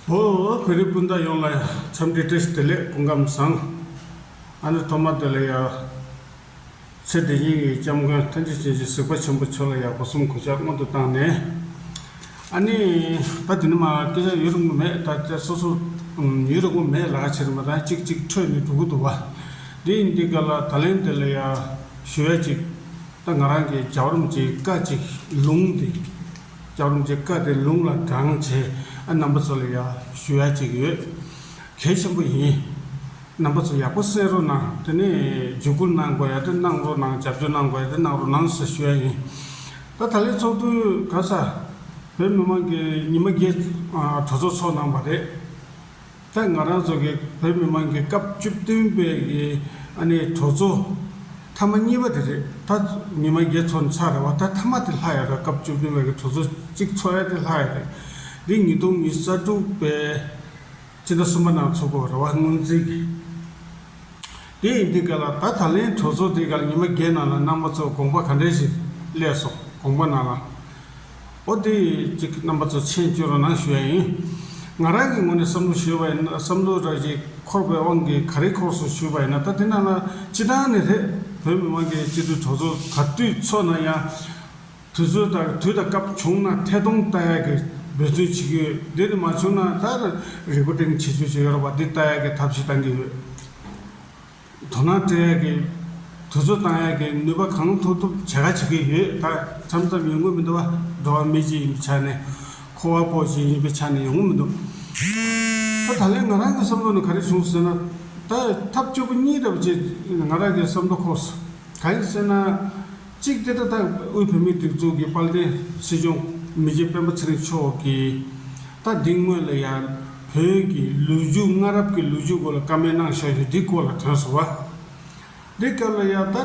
ཧོ། བོད་རིགས་སྤུན་ཟླ་ཡོངས་ལ་འཚམས་འདྲི་བཀྲ་ཤིས་བདེ་ལེགས་དཔུང་ཁམས་བཟང། ཨ་ནེ་ཐོ་མ་དེ་ལ་ཡ། ཚེ་འདི་སྙིང་ཡི་སྐྱབས་མགོན་མཐའ་འཇིགས་བྱིན་གྱིས་གཟིགས་པ་ཆེན་པོ་མཆོག་ལ་ཡག་པོ་གསུམ་གོ་ཆ་སྔོན་དུ་བཏང་ནས། ཨ་ནེ། ད་དེ་ནི་མ་སྐད་ཆ་ཡོད་རེ་མགོ་མེད་ད་ཆ་སོ་སོ། ཡོད་རེ་མགོ་མེད་ལག་ཁྱེར་མ་ཐང་ཅིག་ཅིག་འཕྲོད་ནས་འགྲོ་གི་འདུག་བ། འདི་ཡིན་འདི་ག་ལ་ད་ལན་དེ་ལ་ཡ། ཞུ་ཡ་ཅིག། ད་ང་རང་གིས་རྒྱ་བར་མི་བྱེད་ཀ་ཅིག་ལུང་འདི། ལྕགས་རོམ་གྱི་སྐད་དེ་རླུང་ལ་འགྲངས་བྱས་ཨ་རྣམ་པ་ཚོ་ལ་ཡང་ཞུ་ཡ་གཅིག་ཡོད། གལ་ཆེན་པོ་ཡིན། རྣམ་པ་ཚོ་ཡག་པོ་གསན་རོགས་གནང་དེ་ནས་བརྒྱུད་སྐུར་གནང་དགོས་ཡ་དེ་གནང་རོགས་གནང་རྒྱབ་སྐྱོར་གནང་དགོས་ཡ་དེ་གནང་རོགས་གནང་ཞེས་ཞུ་ཡ་ཡིན། ད་ད་ལའི་ཚོགས་དུས་ག་ས་བོད་མི་མང་གི་ཉི་མ་བརྒྱད་གྲོས་ཚོགས་ཚོགས་གནང་བ་རེད། ཐད་ང་རང་ཚོ་གིས་བོད་མི་མང་གི་སྐབས་བཅུ་བདུན་པའི་གི་ཨ་ནེ་གྲོ་ཚོ་མཐའ་མ་གཉིས་པ་དེ་རེད་ད། ཉི་མ་བརྒྱད་ཚོ་ནས་ཚར་རེད་བ་ད་མཐའ་མ་དེ་ལྷག་ཡ་རེད་སྐབས་བཅུ་བདུན་པའི་གི་གྲོ་ཚོ་གཅིག་ཚོ་ཡ་དེ་ལྷག་ཡ་རེད། འདི་ཉིས་སྟོང་ཉིས་རྩ་དྲུག་པའི་སྤྱི་ཟླ་གསུམ་པ་ནང་ཚོགས་དགོས་རེད་བ་སྔོན་རྩིས་གི། དེ་ཡིན་དུས་ག་ལ་ད་ད་ལན་གྲོ་ཚོ་དེ་ག་ལ་ཉི་མ་བརྒྱད་ནང་ལ་ནང་པ་ཚོ་དགོངས་པ་ག་འདྲས་ཞིག་གླས་སོང་དགོངས་པ་ནང་ལ། ཨོ་དེ་གཅིག་གི་རྣམ་པ་ཚོ་མཆན་བཅོས་རོགས་གནང་ཞུ་ཡ་ཡིན། ང་རང་གི་ངོ་ནས་བསམ་བློ་ཞུ་བ་ཡིན་ན་བསམ་བློའི་ར་བཞི་འཁོར་བའི་དབང་གིས་ག་རེ་འཁོར་སོང་ཞུས་པ་ཡིན་ན་ད་དེ་རྣམས་ལ་སྤྱི་བཏང་ནི་རེད་བོད་མི་མང་གི་སྤྱི་འཐུས་གྲོགས་ཚོ་ག་དུས་ཚོགས་ན་ཡང། དུས་ཚོད་དང་དུས་དང་སྐབས་བྱུང་ན་ཐད་གཏོང་ལྟ་ཡག་གི་འབོད་བརྩོན་བྱེད་ཀྱི་ཡོད་དེ་ནི་མ་བྱུང་ན་ད་རེ་སྒོ་སྟེང་ཆེད་བཅོས་བྱེད་ཡོད་རོགས་པ་འདི་ལྟ་ཡག་གི་ཐབས་ཤིག་གཏང་གི་ཡོད། དོ་སྣང་སྤྲོད་ཡག་གི། དུས་ཚོད་བཏང་ཡག་གི་ནུས་པ་གང་ཐུབ་ཐུབ་བྱ་ག་བྱེད་ཀྱི་ཡོད་ད། ཆམ་ཚབ་ཡོང་གི་མི་འདུག་བ། འགྲོ་བ་མི་གཅིག་ཡིན་པའི་ཆ་ནས། འཁོར་བ་པོ་གཅིག་ཡིན་པའི་ཆ་ནས་ཡོང་གི་མི་འདུག། ད་ད་ལན་ང་རང་གི་བསམ་བློ་ནི་ག་རེ་བྱུང་ཟེར་ན། ད་ཐབས་སྐྱོ་པོ་གཉིས་ལྟ་བུ་ཅིག་ང་རང་གི་བསམ་བློ་ཁོག་སོ། གང་ཡིན་ཟེར་ན། གཅིག་སྐད་བརྡ་ལྟ་བུའི་བོད་མིའི་སྒྲིག་འཛུགས་ཀྱི་དཔལ་ལྡན་སྲིད་སྐྱོང་མི་རྗེ་སྤེན་པ་ཚེ་རིང་མཆོག་གིས། ད་དེ་སྔོན་ལ་ཡང་བོད་ཀྱི་ལུས་རྒྱུ་སྔ་རབས་ཀྱི་ལུས་རྒྱུ་སྐོར་ལ་བཀའ་མོལ་གནང་བཞག་ཡོད་འདི་སྐོར་ལ་དྲན་སོང་བ། འདི་སྐབས་ལ་ཡང་ད་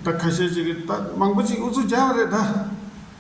ད་ཁ་ཤས་ཅིག་གིས་ད་མང་པོ་ཅིག་ཨུ་ཚུགས་རྒྱག་པ་རེད་ད།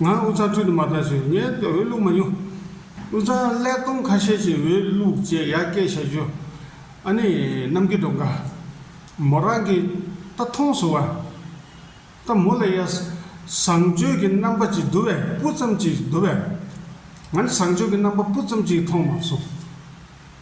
ང་འུ་ཚ་ཁྲུས་དུ་མ་བཏང་ཞིང་ངས་འོས་བླུགས་མ་མྱོང། འུ་ཚ་ཀླད་སྟོང་ཁ་ཤས་ཀྱིས་འོས་བླུགས་ཅེས་ཡར་སྐད་བྱ་རྒྱུ། ཨ་ནི་གནམ་གྱི་སྒྲོག་འགའ། མོ་རང་གིས་ད་མཐོང་ཟུར་བ། ད་མོ་ལ་ཡ། བཟང་སྤྱོད་ཀྱི་རྣམ་པ་ཅིག་བསྡུ་བས་སྤུ་ཙམ་ཅིག་བསྡུ་བས། ང་ནི་བཟང་སྤྱོད་ཀྱི་རྣམ་པ་སྤུ་ཙམ་ཅིག་མཐོང་མ་སོང།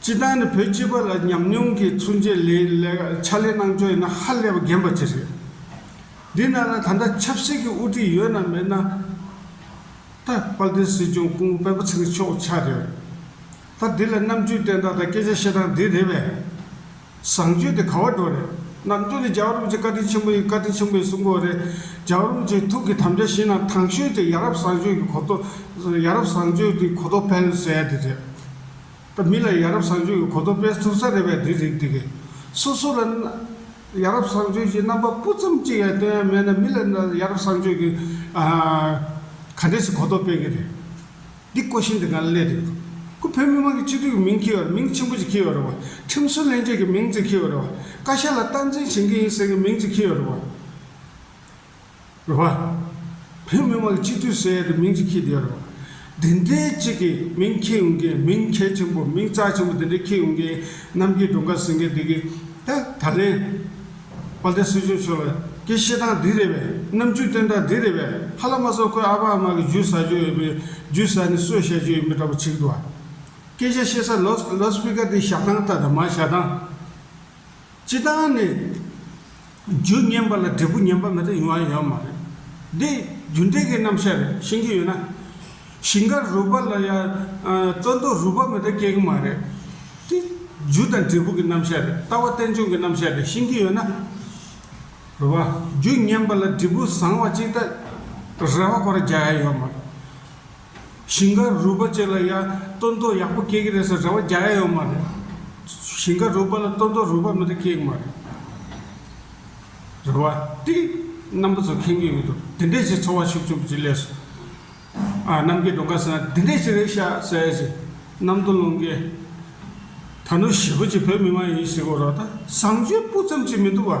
སྤྱི་བཏང་ནི་བོད་སྤྱི་པ་ལ་ཉམས་མྱོང་གི་མཚོན་བྱེད་ལས་ཕྱག་ལས་གནང་ཕྱོགས་ཡིན་ན་ཧ་ལས་པ་རྒན་པ་ཅིག་རེད། འདི་ན་ན་ད་ལྟ་ཆབ་སྲིད་ཀྱི་དབུ་ཁྲིད་ཡོད་ན་མེད་ན་ད་དཔལ་ལྡན་སྲིད་སྐྱོང་སྐུ་ངོ་དཔལ་པོ་ཚེ་རིང་མཆོག་ཆགས་རེད། ད་འདི་ལ་རྣམ་དཔྱོད་བསྟན་སྟངས་དང་སྐད་ཆ་བཤད་སྟངས་འདི་རེད་པས། བཟང་སྤྱོད་དེ་ག་བ་འགྲོ་རེད། རྣམ་དཔྱོད་ནི་རྒྱལ་རོམ་གྱི་བཀའ་དྲིན་ཆེན་པོ་ཡིན་བཀའ་དྲིན་ཆེན་པོ་ཡིན་གསུང་དགོས་རེད། རྒྱལ་རོམ་གྱི་ཐུགས་ཀྱི་དམ་བཅའ་བཞིན་ན་ཐང་ཤོད་ཀྱི་ཡ་རབས་བཟང་སྤྱོད་ཀྱི་གོ་རྟོགས་ཡ་རབས་བཟང་སྤྱོད་ཀྱི་གོ་རྟོགས་འཕེལ་ཟེར་ཡ་འདི་རེད། དང་མི་ལ་ཡ་རབས་བཟང་སྤྱོད་ཀྱི་གོ་རྟོགས་སྤེལ་ཐུབ་ས་རེད་པས་འདི་རིགས་འདི་གས། སོ་སོ་ལ་ཡ་རབས་བཟང་སྤྱོད་ཀྱི་རྣམ་པ་སྤུ་ཙམ་གཅིག་ཡང་སྟོན་ཡ་མེད་ན་མི་ལ་ཡ་རབས་བཟང་སྤྱོད་ཀྱི་ག་འདྲས་སུ་གོ་རྟོགས་སྤེལ་གྱི་རེད། འདི་ཀོ་ཤིང་དེ་ག་ལ་གླས་འདུག་དུ། ཁུ་བོད་མི་མང་གི་སྤྱི་འཐུས་ཀྱི་མིང་འཁྱིལ་བ་རེད་མིང་ཆེན་པོ་ཅིག་འཁྱིལ་བ་རེད་བ། ཁྲིམས་སྲོལ་སླན་ཆད་ཀྱི་མིང་ཅིག་འཁྱིལ་བ་རེད་བ། བཀའ་ཤག་ལ་སྟངས་འཛིན་བྱེད་མཁན་ཡིན་ཟེར་གྱི་མིང་ཅིག་འཁྱིལ་བ་རེད་བ། རེད། རེད་པ། བོད་མི་མང་སྤྱི་འཐུས་ཟེར་ཡས་དེ་མིང་ཅིག་ཁྱེད་དེ་རེད་པ། དེ་འདྲའི་ཅིག་གི་མིང་ཁྱེད་ཡོང་མཁན་མིང་གལ་ཆེན་པོ་མིང་རྩ་ཆེན་པོ་དེ་འདྲའི་ཁྱེད་ཡོང་མཁན་གནམ་གྱི་སྒྲོ་འགའ་ཟིན་མཁན་དེ་གི་ད་ད་ལན་དཔལ་ལྡན་སྲིད་སྐྱོང་མཆོག་ལ་ཀྱི་བཤད་སྟངས་འདི་རེད་པས་རྣམ་དཔྱོད་བསྟན་སྟངས་འདི་རེད་པས་ཧ་ལ་མ་ཚོ་ཁོའི་ཨ་ཕ་ཨ་མ་གི་རྒྱུད་ཟ་རྒྱུ་ཡོད་པའི་རྒྱུད་ཟ་ནི་གསོད་བཤད་རྒྱུ་ཡིན་པའི་འདྲ་པོ་ཆིག་འདུག་ཨ། སྐད་ཆ་བཤད་ས་ལོ་ལོ་སྤིག་ཀ་དེ་བཞག་སྟངས་ལྟ་དང་མ་བཞག་སྟངས། སྤྱི་བཏང་ནས། རྒྱུ་ཉན་པ་ལ་འབྲས་བུ་ཉན་པ་མེད་དུ་ཡོང་བ་ཡོད་མ་རེད། འདི་རྒྱུ་འབྲས་ཀྱི་རྣམ་བཤད་རེད་ཤེས་ཀྱི་ཡོད་ན། ཞིང་ཁ་རུལ་པ་ལ་ཡང་བཙོན་དུ་རུལ་པ་མེད་དུ་སྐྱེ་གི་མ་རེད། འདི་རྒྱུ་དང་འབྲས་བུ་གྱི་རྣམ་བཤད་རེད་ལྟ་བ་རྟེན་འབྱུང་གི་རྣམ་བཤད་རེད་ཤེས་ཀྱི་ཡོད་ན། རེད་བ། རྒྱུ་ཉན་པ་ལ་འབྲས་བུ་བཟང་བ་ཅིག་ལྟ། རེ་བ་སྐོར་རྒྱག་ཡ་ཡོད་མ་རེད། ཞིང་ཁ་རུལ་པ་བཅས་ལ་ཡང་སྟོན་མདོག་ཡག་པོ་སྐྱེ་གི་རེད་ཟེར་རེ་བ་རྒྱག་ཡ་ཡོད་མ་རེད། ཞིང་ཁ་རུལ་པ་ལ་སྟོན་མདོག་རུལ་པ་མེད་ན་སྐྱེ་གི་མ་རེད། རེ་བ་ཏི་རྣམ་པ་ཚོ་ཁེངས་གི་ཡོད་འདུག་དེ་འདྲས་ཞིག་འཚོ་བ་ཞིག་བཅུག་ཅི་ལས་སོ། ཨ་རྣམ་རྒྱལ་འགྲོ་དགའ་ཟེར་ན་དེ་འདྲས་ཞིག་རེད་ཤག་ཟེར་ཡ་ཞིག་རྣམ་རྟོག་རླུང་རྒྱལ། ད་ནུ་ཞི་བོ་ཅིག་བོད་མི་མ་ཡིན་ཞིག་གོ་རོགས་ད་བཟང་སྤྱོད་སྤུ་ཙམ་ཅིག་མི་འདུག་བ།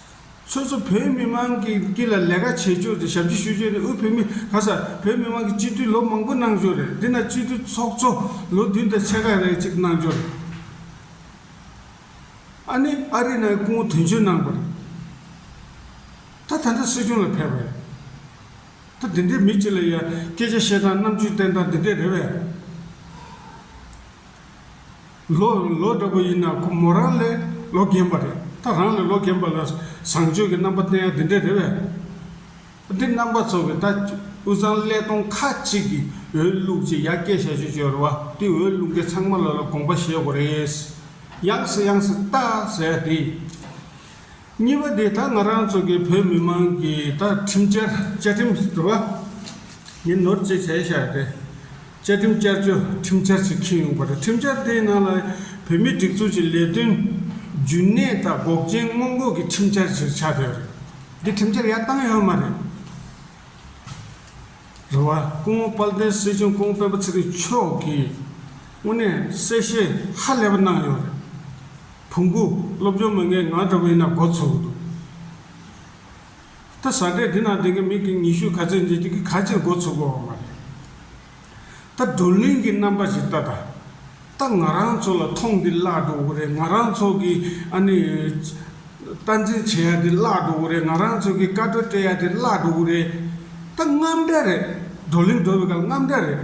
སོ་སོ་བོད་མི་དམངས་ཀྱི་དཀྱིལ་ལ་ལས་ཀ་བྱེད་ཕྱོགས་དེ་ཞབས་ཕྱི་ཞུ་ཕྱོགས་ནི་དབུས་བོད་མི་ག་ས་བོད་མི་དམངས་ཀྱི་སྤྱི་འཐུས་ལོ་མང་པོ་གནང་ཕྱོགས་རེད་འདི་ན་སྤྱི་འཐུས་ཚོགས་གཙོ་ལོ་བདུན་དང་ཕྱེད་ཀ་རེ་གཅིག་གནང་ཕྱོགས་རེད། ཨ་ནི་ཨ་རི་ནང་སྐུ་ངོ་དོན་གཅོད་གནང་པ་རེད། ད་ད་འདྲ་སྲིད་སྐྱོང་ལ་ཕེབས་པ་རེད། ད་འདི་འདྲའི་མི་གཅིག་ལ་ཡ་སྐད་ཆ་བཤད་སྟངས་རྣམ་དཔྱོད་བསྟན་སྟངས་འདི་འདྲ་རེད་བས། ལོ་ལོ་འདྲ་པོ་ཡིན་ན་ཁོ་མོ་རང་ལས་ལོ་རྒན་པ་རེད་ད་རང་ལས་ལོ་རྒན་པ་ལ་བཟང་སྤྱོད་ཀྱི་རྣམ་པ་བསྟན་ཡ་དེ་འདྲས་རེད་བས། འདི་རྣམ་པ་ཚོ་གི་ད་དབུས་གཙང་ཀླད་སྟོང་ཁ་ཅིག་གི་འོས་བླུགས་ཅིག་ཡ་སྐད་བྱ་སྤྱོད་སྤྱོད་རེད་བ་འདི་འོས་བླུགས་མཁན་ཚང་མ་ལ་ལ་དགོངས་པ་བཞེས་དགོས་རེད། ཡངས་སེ་ཡངས་སེ་ལྟ་ཟེར་ཡ་དེ། གཉིས་པ་དེ་ད་ང་རང་ཚོ་གི་བོད་མི་མང་གི་ད་ཁྲིམས་བཅའ་ཁྲིམས་རེད་པ། ཡིན་ནོར་ཅེས་བྱས་ཤ་རེད། བཅའ་ཁྲིམས་བསྐྱར་བཅོས་ཁྲིམས་འཆར་ཞིག་ཁེལ་ཡོང་པ་རེད་ཁྲིམས་འཆར་དེའི་ནང་ལ་བོད་མིའི་སྒྲིག་འཛུགས་ཀྱི་ལས་དོན་རྒྱུན་གནས་དང་འགོག་རྐྱེན་སྔོན་འགོག་གི་ཁྲིམས་འཆར་ཞིག་ཆགས་ཡོད་རེད། དེ་ཁྲིམས་འཆར་ཡར་བཏང་ཡོད་མ་རེད། རེད་བ། སྐུ་ངོ་དཔལ་ལྡན་སྲིད་སྐྱོང་ཀོང་སྤེན་པ་ཚེ་རིང་མཆོག་གིས་དངོས་གནས་གསལ་བཤད་ཧ་ལས་པ་གནང་ཡོད་རེད། ཕུང་པོ། སློབ་སྦྱོང་མི་ངན་ང་འདྲ་བས་ན་འགོ་ཚུགས་འདུག་ད་ཟ་འདྲེ་འདི་ན་འདི་གི་མིག་གི་ཉི་ཤུ་ག་ཚོད་འབྱེད་ཀྱི་ག་ཅིར་འགོ་ཚུགས་པའོ་མ་རེད་ད་བགྲོ་གླེང་གི་རྣམ་པ་ཞིག་ལྟ་ད་ལྟ་ང་རང་ཚོ་ལ་ཐོངས་འདི་བརླག་འགྲོ་གི་རེད་ང་རང་ཚོ་གི་ཨ་ནི་སྟ་འཛིན་བྱེད་ཡ་འདི་བརླག་འགྲོ་གི་རེད་ང་རང་ཚོ་གི་བཀའ་བགྲོ་སྤྲད་ཡ་འདི་བརླག་འགྲོ་གི་རེད་ད་རྔམ་འདྲ་རེད་བགྲོ་གླེང་འགྲོ་བའི་སྐབས་རྔམ་འདྲ་རེད།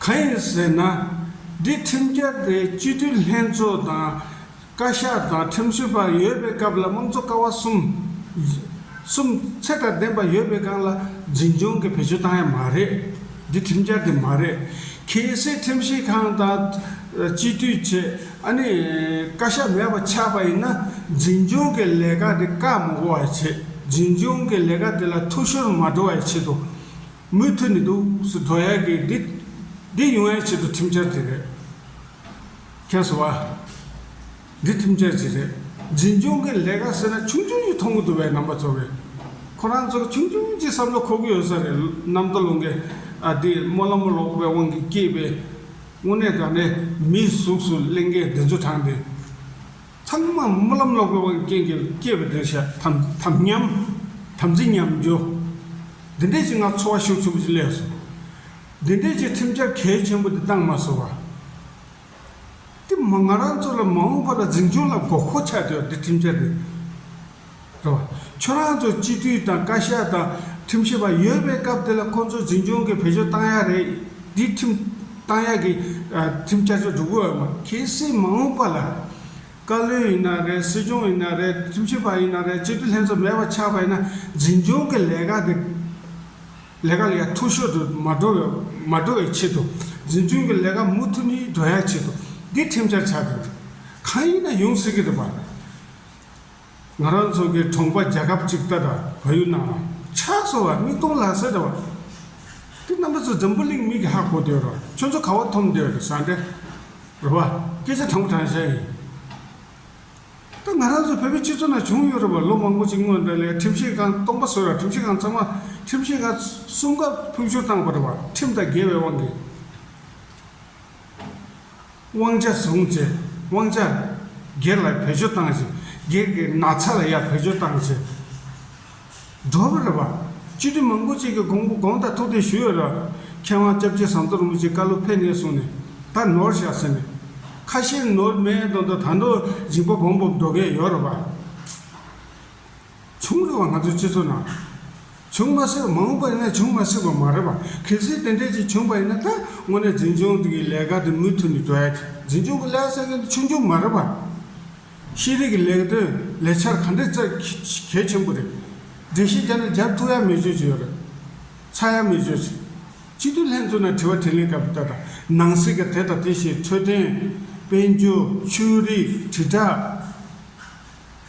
གང་ཡིན་ཟེར་ན། འདི་ཁྲིམས་འཆར་དེ་སྤྱི་འཐུས་ལྷན་ཚོགས་དང། བཀའ་ཤག་དང་ཁྲིམས་བཟོའི་བར་ཡོད་པའི་སྐབས་ལ་དམངས་གཙོ་ཀ་བ་གསུམ། གསུམ། ཚད་དང་ལྡན་པ་ཡོད་པའི་སྒང་ལ་འཛིན་སྐྱོང་གི་བེད་སྤྱོད་བཏང་ཡ་མ་རེད། འདི་ཁྲིམས་འཆར་དེ་མ་རེད། གལ་སྲིད་ཁྲིམས་ཞིབ་ཁང་དང། སྤྱི་འཐུས་ཆེ། ཨ་ནི། བཀའ་ཤག་མེད་པ་ཆགས་པ་ཡིན་ན། འཛིན་སྐྱོང་གི་ལས་ཀ་དེ་བཀག་མི་དགོ་བའི་ཆེད། འཛིན་སྐྱོང་གི་ལས་ཀ་དེ་ལ་ཐུགས་ཤོར་མ་འགྲོ་བའི་ཆེད་དུ། མུ་མཐུད་ནས་དུག་སུལ་དོ་ཡག་གི་འདི་འདི་ཡོང་བའི་ཆེད་དུ་ཁྲིམས་འཆར་དེ་རེད། ཁྱོད་ཟེར་བ། འདི་ཁྲིམས་འཆར་ཅིག་རེད། འཛིན་སྐྱོང་གི་ལས་ཀ་ཟེར་ན་ཆུང་ཆུང་ཞིག་མཐོང་གི་འདུག་བས་རྣམ་པ་ཚོར་བས། ཁོ་རང་ཚོར་ཆུང་ཆུང་ཅིག་བསམ་བློ་འཁོར་གི་ཡོད་ས་རེད་གནམ་མདོ་ལུང་གི་ཨ་འདི་རྨོ་ལམ་མོ་ལོག་པའི་དབང་གིས་སྐྱེས་པའི་དངོས་གནས་དགའ་ནས་མིའི་གཟུགས་སུ་གླིང་གའི་བདེ་འབྱོར་དྲངས་ཏེ། ཚང་མ་རྨི་ལམ་ལོག་པའི་དབང་གི་རྐྱེན་གྱིས་སྐྱེས་པའི་བདེར་ཤ་དམ་དམ་ཉམས། དམ་ཚིག་ཉམས། འགྱུར། འདི་འདྲའི་ཞིག་ན་འཚོ་བ་ཤུགས་ཆེན་པོ་ཅིག་སླེབས་སོང། འདི་འདྲའི་ཞིག་ཁྲིམས་འཆར་གལ་ཆེན་པོ་འདི་གཏང་མ་སོང་བ། དེ་མ་ང་རང་ཚོ་ལ་མ་འོངས་པ་ལ་འཛིན་སྐྱོང་ལ་དགོས་མཁོ་ཆགས་ཆོག་འདི་ཁྲིམས་འཆར་འདི། དོ། ཁྱོད་རང་ཚོ་སྤྱི་འཐུས་དང་བཀའ་ཤག་དང་ཁྲིམས་ཞིབ་པ་ཡོད་པའི་སྐབས་དེ་ལ་ཁོང་ཚོ་འཛིན་སྐྱོང་གི་བེད་སྤྱོད་བཏང་ཡག་རེད། འདིས་ཁྲིམས་བཏང་ཡག་གི་ཁྲིམས་བསྐྱར་བཅོས་སྒྲུབ་དགོས་ཨ་མ། གལ་སྲིད་མ་འོངས་པ་ལ། བཀའ་བློན་ཡིན་ན་རེད་སྲིད་སྐྱོང་ཡིན་ན་རེད་ཁྲིམས་ཞིབ་པ་ཡིན་ན་རེད་སྤྱི་འཐུས་ལྷན་ཚོགས་མེད་པ་ཆགས་པ་ཡིན་ན་འཛིན་སྐྱོང་གི་ལས་ཀ་དེ་ལས་ཀ་ལས་མཐོ་ཤོས་དུ་མ་འགྲོ་བའི་མ་འགྲོ་བའི་ཆེད་དུ། འཛིན་སྐྱོང་གི་ལས་ཀ་མུ་མཐུད་ནས་འགྲོ་ཡག་ཆེད་དུ་འདིས་ཁྲིམས་བསྐྱར་བྱ་དགོས་རེད། གང་ཡིན་ན་ཡོང་སྲིད་ཀྱི་རེད་པ། ང་རང་ཚོ་གི་གྲོང་པ་རྒྱལ་ཁབ་ཅིག་ལྟར་ར་བ་ཡུལ་ནང་ལ། ཕྱག་སོ་བ་མིག་སྟོང་ལག་ཟེར་ར་བ། དེ་རྣམ་པ་ཚོ་འཛམ་བུ་གླིང་མིག་གི་ཧ་གོ་འདོད་ར་བ། ཁྱོད་ཚོ་ག་བ་འཐོམ་འདོད་ར་བ། ར་བ། སྐད་ཆ་དྲང་པོ་དྲང་བཤད་ཡིན། ད་ང་རང་ཚོ་བོད་པའི་སྤྱི་ཚོགས་ནང་བྱུང་ཡོད་ར་བ་ལོ་མང་པོ་ཅིག་སྔོན་དང་ལས་ཁྲིམས་ཞིག་ཁང་སྟོང་པ་བཟོས་ར་བ་ཁྲིམས་ཞིག་ཁང་ཚང་མ་ཁྲིམས་ཞིག་ཁང་གསུམ་ཀ་ཕུལ་བྱུང་བཏང་བ་ར་བ་ཁྲིམས་དང་འགལ་བའི་དབང་གིས། དབང་ཆ་བཟུང་ཚེ་དབང་ཆ། སྒེར་ལ་བེད་སྤྱོད་བཏང་ཚེ་སྒེར་གྱི་ན་ཚ་ལ་ཡང་བེད་སྤྱོད་བཏང་ཚེ། སྒྲོལ་བ་རེད་པ། སྤྱི་འཐུས་མང་པོ་གཅིག་གིས་དགོངས་པ་དགོངས་དག་ཐུགས་གཏན་ཞུས་ཡོད་རེད། མཁས་དབང་སྐྱབས་རྗེ་ཟམ་གདོང་རིན་པོ་ཆེས་བཀའ་སློབ་ཕེབས་ནས་བཟུང་ནས་ད་ནོར་བཞག་ཟེར་ནས། ཁ་ཤས་ནོར་མེད་དོན་དུ་ད་ནོར་འཇིགས་པ་བོང་བུ་འགྲོ་གི་ཡོད་རེད་པ། བྱུང་རེད་བ་ང་ཚོའི་སྤྱི་ཚོགས་ནང། བྱུང་མ་སྲིད་མང་པོ་ཡིན་ན་བྱུང་མ་སྲིད་པ་མ་རེད་པ་གལ་སྲིད་དེ་འདྲས་ཅིག་བྱུང་པ་ཡིན་ན་ད་དངོས་གནས་འཛིན་སྐྱོང་གི་ལས་ཀ་དེ་མུ་མཐུད་ནས་འགྲོ་ཡ་ཐུ་འཛིན་སྐྱོང་གི་ལས་ཟེར་མཁན་དེ་ཆུང་ཆུང་མ་རེད་པ། ཤེས་རིག་གི་ལས་དོན་ལས་འཆར་ག་འདྲས་བརྩད་གལ་ཆེན་པོ་རེད། འགྲེལ་བཤད་རྒྱ་ནག་རྒྱབ་ཐུག་ཡ་མེད་བྱོས་ཀྱི་ཡོད་རེད། ཚ་ཡ་མེད་བྱོས། སྤྱི་འཐུས་ལྷན་ཚོགས་ནང་དྲི་བ་དྲིས་ལན་སྐབས་ད་ལྟ་ནང་སྲིད་ཀྱི་དེ་དང་དེ་བྱས་འཕྲོད་བསྟེན། དཔལ་འབྱོར། ཆོས་རིག། དྲིལ་བསྒྲགས།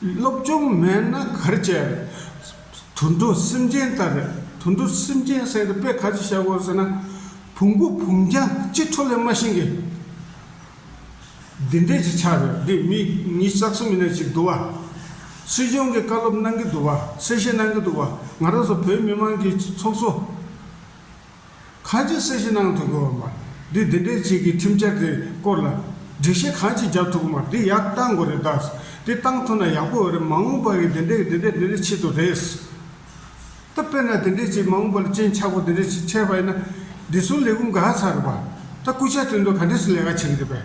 སློབ་སྦྱོང་མེད་ན་གར་བྱེད། དུད་འགྲོ་སེམས་ཅན་ལྟར་རེད། དུད་འགྲོ་སེམས་ཅན་གསལ་འདེབས་དཔེ་ག་ཚོད་བྱ་དགོས་ཟེར་ན། བུང་བུ་བུམ་རྒྱ་གཅིག་འཕྲོ་ལས་མ་ཤེས་ཀི། འདི་འདྲས་ཀྱི་ཆ་རེད་འདི་མི་གཉིས་རྩ་གསུམ་མི་སྣ་ཅིག་འདུག་བ། སྲིད་སྐྱོང་གི་བཀའ་སློབ་གནང་གི་འདུག་བ་གསལ་བཤད་གནང་གི་འདུག་བ། ང་རང་ཚོ་བོད་མི་མང་གི་ཚོགས་གཙོ། གང་ཅིའི་གསལ་བཤད་གནང་ཐུབ་དགོས་བ་མ་རེད་འདི་འདྲའི་ཆེད་ཀྱི་ཁྲིམས་འཆར་དེ་སྐོར་ལ་སྒྲིག་གཞི་གང་ཅི་རྒྱབ་ཐུབ་དགོས་མ་རེད་དེ་ཡག་གཏང་དགོས་རེད་དཱ་དེ་གཏང་ཐུབ་ན་ཡག་པོ་འོས་རེད་མ་དངུལ་པ་རིགས་འདི་འདྲས་འདི་འདྲས་འདི་འདྲས་ཆེད་དུ་རེད་ད་དཔེར་ན་དེ་འདྲས་ཆེད་མ་དངུལ་པ་ལ་སྤྱན་ཆག་པོ་དེ་འདྲས་ཆེད་ཁྲལ་བ་ཡིན་ན་བདེ་སྲུང་ལས་ཁུངས་དགའ་ཚར་རེད་པ་ད་སྐུ་ཕྱྭ་དེ་འདྲོ་ག་འདྲས་སུ་ལས་ཀ་བྱེད་ཀྱི་རེད་པས།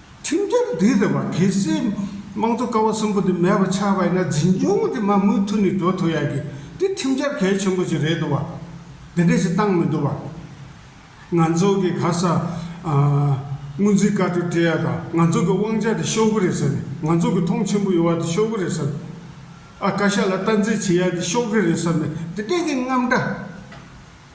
ཁྲིམས་འགལ་འདི་རེད་བ་གལ་སྲིད་དམངས་གཙོ་ཀ་བ་གསུམ་པོ་འདི་མེད་པ་ཆགས་པ་ཡིན་ན་འཛིན་སྐྱོང་འདི་མ་མུ་མཐུད་ནས་འགྲོ་ཐུབ་ཡག་གི་འདི་ཁྲིམས་འགལ་གལ་ཆེན་པོ་ཞིག་རེད་འདུག་བ། འདི་འདྲ་ཞིག་བཏང་མི་འདུག་བ། ང་ཚོ་གི་ག་ས་དངུལ་འཛིན་བཀའ་བགྲོས་སྤྲད་ཡ་དང་ང་ཚོ་གི་དབང་ཆ་དེ་ཤོར་གི་རེད་ཟེར་ནས་ང་ཚོ་གི་ཐོང་ཆེན་པོ་ཡོད་བ་དེ་ཤོར་གི་རེད་ཟེར། ཨ་བཀའ་ཤག་ལ་སྟངས་འཛིན་བྱེད་ཡ་དེ་ཤོར་གི་རེད་ཟེར་ནས་འདི་འདྲ་གི་རྔམ་སྒྲ།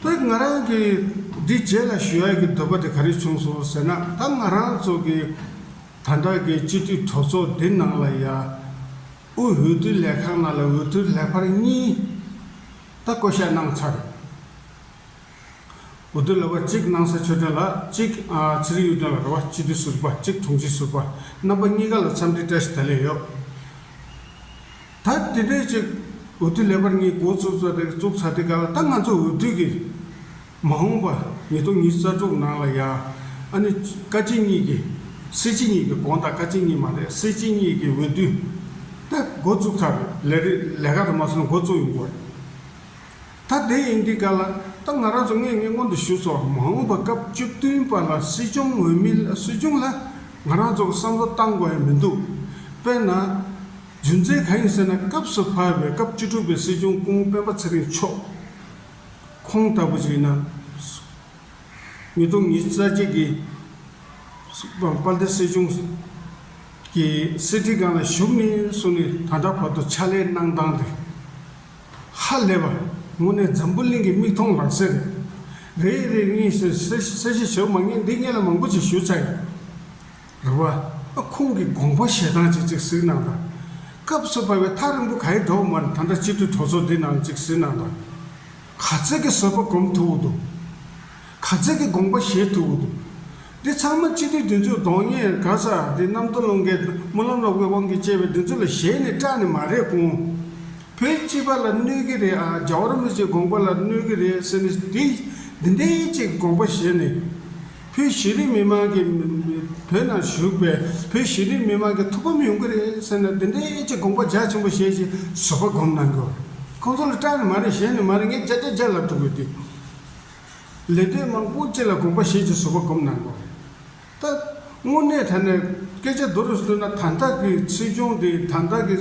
དཔེར་ང་རང་གིས་འདི་རྗེས་ལ་ཞུ་ཡག་གི་འདོད་པ་དེ་ག་རེ་བྱུང་སོང་ཟེར་ན་ད་ང་རང་ཚོ་གི་ད་ལྟ་གི་སྤྱི་འཐུས་གྲོགས་ཚོགས་འདི་ནང་ལ་ཡ་ཨུ་འོས་བསྡུ་ལས་ཁང་ནང་ལ་འོས་བསྡུ་ལེགས་པར་གཉིས་ད་བསྐོ་གཞག་གནང་ཚར་འོས་བསྡུ་ལེགས་པར་གཅིག་གནང་ས་ཆོས་སྒྲོན་ལགས་གཅིག་ཚེ་རིང་གཡུ་སྒྲོན་ལགས་རེད་བ་སྤྱི་འཐུས་ཟུར་བ་གཅིག་དྲུང་ཆེ་ཟུར་བ་རྣམ་པ་གཉིས་ཀ་ལ་འཚམས་འདྲི་བཀྲ་ཤིས་བདེ་ལེགས་ཡོད། ད་དེ་སྤེལ་ཅིག་འོས་བསྡུ་ལེགས་པར་གཉིས་མགོ་བཙུགས་ཚར་དེ་བཙུགས་ཚར་དེ་ག་ལ་ད་ང་ཚོ་འོས་བསྡུ་གི་མ་འོངས་པ་ཉིས་སྟོང་ཉིས་རྩ་དྲུག་ནང་ལ་ཡ་ཨ་ནི་བཀའ་སྤྱི་གཉིས་ཀྱི་སྲིད་སྤྱི་གཉིས་ཀྱི་དགོངས་དག་བཀའ་སྤྱི་གཉིས་མ་རེད་སྲིད་སྤྱི་གཉིས་ཀྱི་འོས་བསྡུ་ད་མགོ་བཙུགས་ཚར་ལས་རེད་ལས་ཀ་ད་མ་སོང་མགོ་བཙུགས་ཡོང་དགོས་རེད་ད་དེ་ཡིན་དེ་ག་ལ་ད་ང་རང་ཚོ་ངས་ངས་སྔོན་དུ་ཞུས་སོ་མ་འོངས་པ་སྐབས་བཅུ་བདུན་པ་ལ་སྲིད་སྐྱོང་འོས་མི་སྲིད་སྐྱོང་ལ་ང་རང་ཚོ་གི་བསམ་བློ་བཏང་དགོས་ཡ་མི་འདུག་དཔེར་ན། རྒྱུ་མཚན་གང་ཡིན་ཟེར་ན་སྐབས་སུ་བབས་པའི་སྐབས་བཅུ་དྲུག་པའི་སྲིད་སྐྱོང་སྐུ་ངོ་སྤེན་པ་ཚེ་རིང་མཆོག་ཁོང་ལྟ་བུ་ཞིག་ཡིན་ན། ཉིས་སྟོང་ཉིས་རྩ་གཅིག་གི་དཔལ་ལྡན་སྲིད་སྐྱོང་གི་སྲིད་ཁྲི་སྒང་ལ་བཞུགས་ནས་སོང་ནས་ད་ལྟ་བར་དུ་ཕྱག་ལས་གནང་སྟངས་དེ་ཧ་ལས་པ་དངོས་གནས་འཛམ་བུ་གླིང་གི་མིག་མཐོང་ལག་ཟིན་རེད། རེད་རེད་ངས་གསལ་བཤད་བྱས་མ་ངེས་འདི་ངེད་ལ་མང་པོ་ཞིག་ཞུ་ཚར་ཡོད། རེད་བ། ཨ་ཁུང་གི་དགོངས་པ་ཞེ་སྡང་ཅིག་ཅིག་གཟིགས་གནང་དང། སྐབས་སུ་བབས་པའི་ཐག་རིང་པོ་ག་ཡི་འགྲོ་བ་མར་ད་ལྟ་སྤྱི་འཐུས་གྲོགས་ཚོགས་འདི་ནང་ཅིག་གཟིགས་གནང་དང། ག་ཚོད་ཀྱི་བཟོད་པ་སྒོམ་ཐུབ་བོ་འདུག། ག་ཚོད་ཀྱི་དགོངས་པ་བཞེས་ཐུབ་བོ་འདུག། འདི་ཚང་མ་སྤྱི་འཐུས་བདུན་ཅུ་གདོང་ལྔས་ག་ས་འདི་གནམ་སྟོང་ཀླུང་རྒལ་སྨོན་ལམ་ལོག་པའི་དབང་གིས་བཅས་པའི་བདུན་ཅུ་ལ་གཞས་ནི་སྐྲག་ནི་མ་རེད་ཀུང། བོད་སྤྱི་པ་ལ་གནོད་གི་རེད་ཨ་རྒྱ་བོར་མི་ཚོའི་དགོངས་པ་ལ་གནོད་གི་རེད་ཟེར་ནས་འདི་འདི་འདི་ཅིག་དགོངས་པ་བཞེས་ནས། བོད་གཞི་རིམ་མི་དམངས་ཀྱི་བོད་ནང་བཞུགས་པའི་བོད་གཞི་རིམ་མི་དམངས་ཀྱི་ཐུགས་ཕམ་ཡོང་གི་རེད་ཟེར་ན་འདི་འདྲའི་ཅི་དགོངས་པ་རྒྱ་ཆེན་པོ་བཞེས་ཞེས་བཟོད་པ་སྒོམ་གནང་གི། ཁོང་ཚོ་ལ་སྐྲག་ནི་མ་རེད་ཞེན་ནི་མ་རེད་ངས་བརྒྱ་ཆ་བརྒྱ་ལབ་ཐུབ་གི་འདུག་ལས་དོན་མང་པོ་ཅི་ལ་དགོངས་པ་བཞེས་ཀྱི་བཟོད་པ་སྒོམ་གནང་གི། ད་དངོས་གནས་ད་ནས་སྐད་ཆ་འདི་རུ་བཏོན་ན་དར་འདག་གི་སྲིད་སྐྱོང་དེ་དར་འདག་གི་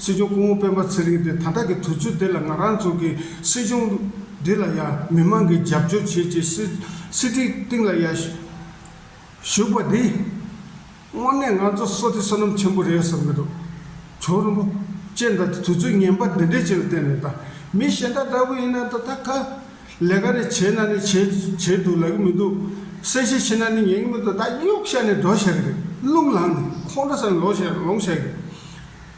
སྲིད་སྐྱོང་སྐུ་ངོ་སྤེན་པ་ཚེ་རིང་དེ་དར་འདག་གི་དུས་ཚོད་དེ་ལ་ང་རང་ཚོ་གི་སྲིད་སྐྱོང་འདི་ལ་ཡང་མི་མང་གིས་རྒྱབ་སྐྱོར་བྱེད་ཅེས་སྲིད་ཁྲིའི་སྟེང་ལ་ཡར་ཞུགས་པ་འདིས། དངོས་གནས་ང་ཚོ་སོ་ཏི་བསོད་ནམས་ཆེན་པོ་རེད་བསམ་གྱི་འདུག་བྱུང་རིན་པོ་ཅེ་མདའ་དེ་དུས་ཚོད་ངན་པ་འདི་འདྲའི་ཆེད་དུ་བསྟན་ནས་ད་མི་གཞན་དག་ལྟ་བུ་ཡིན་ན་ད་ད་ག་ལས་ཀ་རེ་བྱེད་ན་ནི་བྱེད་དུ་ལ་གི་མི་འདུག་གསལ་བཤད་བྱེད་ན་ནི་ཉན་གི་མི་འདུག་ད་གཡོག་བཤའ་ནས་འགྲོ་བཤའ་གི་རེད་རླུང་ལངས་ནས་ཁོང་ཁྲོ་ཟ་ནས་ལོང་བཤའ་གི་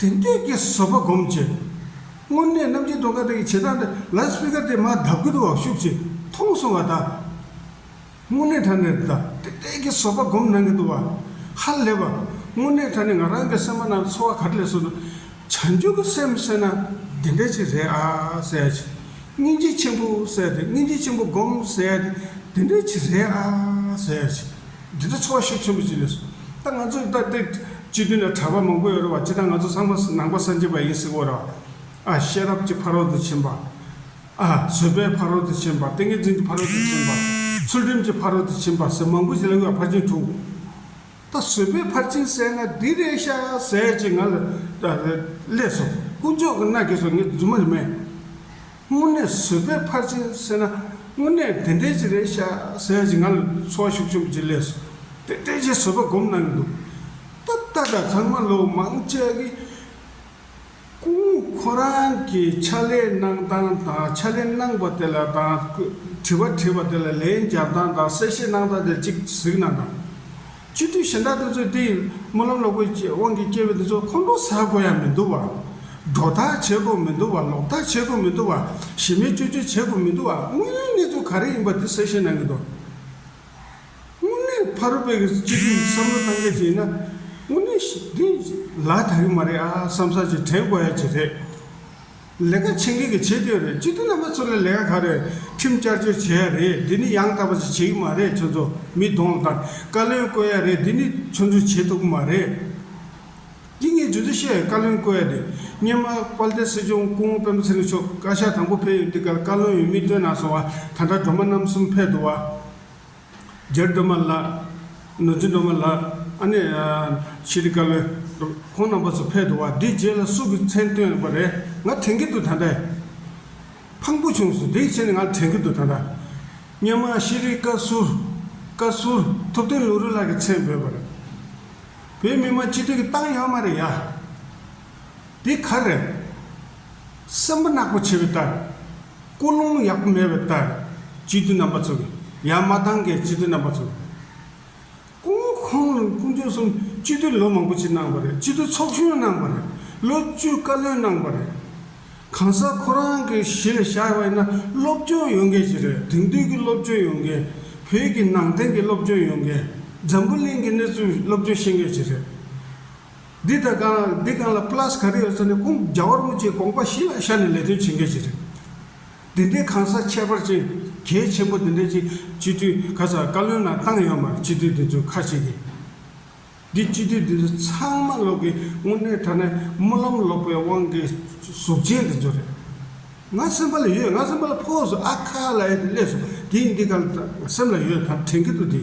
དེང་དུས་ཀྱི་བཟོ་པ་སྒོམ་བྱེད། དངོས་གནས་རྣམ་རྒྱལ་སྒྲོལ་དཀར་ལགས་ཀྱི་བྱེད་སྟངས་འདི་ལ་སྤི་ཁ་དེ་མ་ལྡབ་དགུ་དུ་བ་ཤུག་ཅིག་མཐོང་སོང་བ་དང། དངོས་གནས་ད་ནི་ད་ཏེ་ཏེ་ཀྱི་བཟོ་པ་སྒོམ་གནང་གི་འདུག་བ་ཧ་ལས་པ། དངོས་གནས་ད་ནི་ང་རང་གི་སེམས་པ་ན་ཚོར་བ་ག་རེ་ལས་སོང་ན། བྱང་ཆུབ་ཀྱི་སེམས་བསད་ན་འདི་འདྲ་ཅིག་རེད་ཨ་ཟེར་ཞིང། སྙིང་རྗེ་ཆེན་པོ་བསད་དེ་སྙིང་རྗེ་ཆེན་པོ་སྒོམ་ཟེར་ཡ་དེ་འདི་འདྲ་ཅིག་རེད་ཨ་ཟེར་ཞིང། འདི་ཚོ་འཚོ་བ་ཤེས་ཆེན་པོ་ཅིག་རེད། ད་ང་ཚོ་ལྟ་སྟེ། སྤྱི་དོན་ལ་གྲགས་པ་མང་པོ་ཡོད་རེད་བ་ཅི་ད་ང་ཚོ་ཚང་མ་ནང་པ་སངས་རྒྱས་པ་ཡིན་ཟེར་བོ་རེད་བ། ཨ་ཤེས་རབ་ཀྱི་ཕ་རོལ་ཏུ་ཕྱིན་པ། ཨ་བཟོད་པའི་ཕ་རོལ་ཏུ་ཕྱིན་པ་ཏིང་ངེ་འཛིན་གྱི་ཕ་རོལ་ཏུ་ཕྱིན་པ། ཚུལ་ཁྲིམས་ཀྱི་ཕ་རོལ་ཏུ་ཕྱིན་པ་ཟེར་མང་པོ་ཞིག་ལ་དབུས་བ་ཕར་ཕྱིན་དྲུག། ད་བཟོད་པའི་ཕར་ཕྱིན་ཟེར་ན་འདི་རེད་ཤག་ཟེར་ཅིག་ང་ལ། ལས་སོ། དཀོན་མཆོག་གི་མནའ་གས་སོ་ངས་རྫུན་མ་རེད་མས། དངོས་གནས་བཟོད་པའི་ཕར་ཕྱིན་བསོད་ན་དངོས་གནས་དེ་འདྲའི་ཅིག་རེད་ཤག་ཟེར་ཅིག་ང་ལ་འཚོ་བ་ཤུགས་ཆེན་པོ་ཅིག་ལས་སོ་དེ་འདྲའི་ཆེ་བཟོད་པ་སྒོམ་གནང་གི་འདུག་ད་ལྟ་དང་ཚང་མ་ལོ་མང་ཆད་ཀི། ཀུན་ཁོ་རང་གི་ཕྱ་ལས་གནང་སྟངས་དང་ཕྱ་ལས་གནང་པ་དེ་ལ་དང་དྲི་བ་དྲིས་པ་དེ་ལ་ལན་བརྒྱབ་སྟངས་དང་གསལ་བཤད་གནང་སྟངས་དེ་ཅིག་གཟིགས་གནང་དང། སྤྱི་འཐུས་གཞན་དག་དེ་ཚོས་དེ་ཡིན་སྨོན་ལམ་ལོག་པའི་དབང་གིས་སྐྱེས་པའི་དེ་ཚོ་ཁོང་ཁྲོ་ཟ་དགོས་ཡ་མི་འདུག་བ། སྒྲོ་བཏགས་བྱེད་དགོས་མི་འདུག་བ་ལོག་བཏགས་བྱེད་དགོས་མི་འདུག་བ་གཞི་མེད་བཅོས་བཅོས་བྱེད་དགོས་མི་འདུག་བ་དངོས་ཡོད་གནས་ཚུལ་ག་རེ་ཡིན་པ་དེ་གསལ་བཤད་གནང་གི་འདུག་དངོས་གནས་ཕ་རོལ་པའི་སྤྱི་འཐུས་བསམ་བློ་གཏང་མཁན་ཞིག་ཡིན་ན་དངོས་གནས་འདི་ལ་དག་གི་མ་རེད་ཨ་བསམ་བསམ་ཅིག་དྲན་དགོས་ཡ་ཅིག་རེད། ལས་ཀ་བྱེད་མཁན་གྱི་བྱེད་དེ་རེད་སྤྱི་འཐུས་རྣམ་པ་ཚོ་ལ་ལས་ཀ་ག་རེ་ཁྲིམས་བསྐྱར་བཅོས་བྱས་ཡ་རེད་འདི་ནི་ཡང་དག་པ་ཞིག་བྱེད་ཀྱི་མ་རེད་ཁྱོད་ཚོ་མི་གདོང་ལ་དང་བཀའ་བློན་བསྐོས་ཡ་རེད་འདི་ནི་ཚོད་འཛུལ་བྱེད་ཐུབ་ཀྱི་མ་རེད། འདི་ངས་རྗུ་རྩི་ཤེས་བཀའ་བློན་བསྐོས་ཡ་རེད་སྙན་མ་དཔལ་ལྡན་སྲིད་སྐྱོང་སྐུ་ངོ་དཔོན་པོ་ཚེ་རིང་མཆོག་བཀའ་ཤག་དང་པོ་ཕེབས་ཡོད་འདི་གར་བཀའ་བློན་ཡོད་མི་བསྟོད་ན་སོང་བ་ད་དྲ་སྒྲོ་མ་རྣམ་གསུམ་ཕེབས་འདུག་བ། རྒྱལ་སྒྲོལ་མ་ལགས། ནོར་འཛིན་སྒྲོལ་མ་ལགས། ཨ་ནེ། ཤེས་རིག་བཀའ་བློན། ཁོང་རྣམ་པ་ཚོ་ཕེབས་འདུག་བ་འདི་རྗེས་ལ་སུ་གི་མཚན་བཏོན་པ་རེད་ང་དྲན་གི་འདུག་ད་ལྟ། ཕངས་པོ་བྱུང་སོང་དེའི་ཕྱིར་ང་ལ་དྲན་གི་འདུག་ད་ལྟ། སྙན་མ་ཤེས་རིག་བཀའ་ཟུར། བཀའ་ཟུར། ཐུབ་བསྟན་ལུང་རིགས་ལགས་ཀྱི་མཚན་འབོད་པ་རེད། བོད་མི་མང་སྤྱི་འཐུས་ཀྱི་ཏང་ཡོན་མ་རེད་ཡ། དེ་ག་རེད། སྲིན་པོ་ནག་པོ་བྱེད་པའི་ལྟར། ཀོ་ལོང་ཡག་པོ་མེད་པའི་ལྟར། སྤྱི་འཐུས་རྣམ་པ་ཚོ་གི། ཡང་མ་འདང་གི་སྤྱི་འཐུས་རྣམ་པ་ཚོ། ཀོ་ཁོང་རང་དཀོན་མཆོག་གསུམ་སྤྱི་འཐུས་ལོ་མང་པོ་ཕྱིར་གནང་བ་རེད་སྤྱི་འཐུས་ཚོགས་གཞོན་གནང་བ་རེད་ལོ་བཅུ་བཀའ་བློན་གནང་བ་རེད། གང་ཟག་ཁོ་རང་གི་གཞི་ལ་ཤར་བ་ཡིན་ན་སློབ་སྦྱོང་ཡོང་མཁན་ཞིག་རེད་དེང་དུས་ཀྱི་སློབ་སྦྱོང་ཡོང་མཁན། བོད་ཀྱི་ནང་བསྟན་གྱི་སློབ་སྦྱོང་ཡོང་མཁན། འཛམ་བུ་གླིང་གི་གནས་ཚུལ་སློབ་སྦྱོང་ཤེས་མཁན་ཞིག་རེད། འདི་ལྟར་གང་ལ་འདི་གང་ལ Plus ག་རེ་ཡོད་ས་ནས་ཁུངས་རྒྱ་བར་མུ་ཅེས་དགོངས་པ་གཞི་ལ་བཞག་ནས་ལས་དོན་བྱེད་མཁན་ཞིག་རེད། འདི་འདྲའི་གང་ཟག་ཁྱད་པར་ཅན་གལ་ཆེན་པོ་འདི་འདྲ་ཅིག་སྤྱི་འཐུས་ག་ས་བཀའ་བློན་ནང་བཏང་ཡོད་མར་སྤྱི་འཐུས་འདི་ཚོས་ཁ་ཕྱེ་གི། འདི་སྤྱི་འཐུས་འདི་ཚོ་ཚང་མ་ལོག་གི་དངོས་གནས་ད་ནས་སྨོན་ལམ་ལོག་པའི་དབང་གི་གཟུགས་ཅན་འདི་ཚོ་རེད། ང་སེམས་པ་ལ་ཡོད་ང་སེམས་པ་ལ་ཕོག་སོང་ཨ་ཁ་ལ་ཡོད་དེ་སླེབས་སོང་དེ་ཡིན་འདི་གང་ལ་སེམས་ལ་ཡོད་ད་དྲན་གི་འདུག་འདི།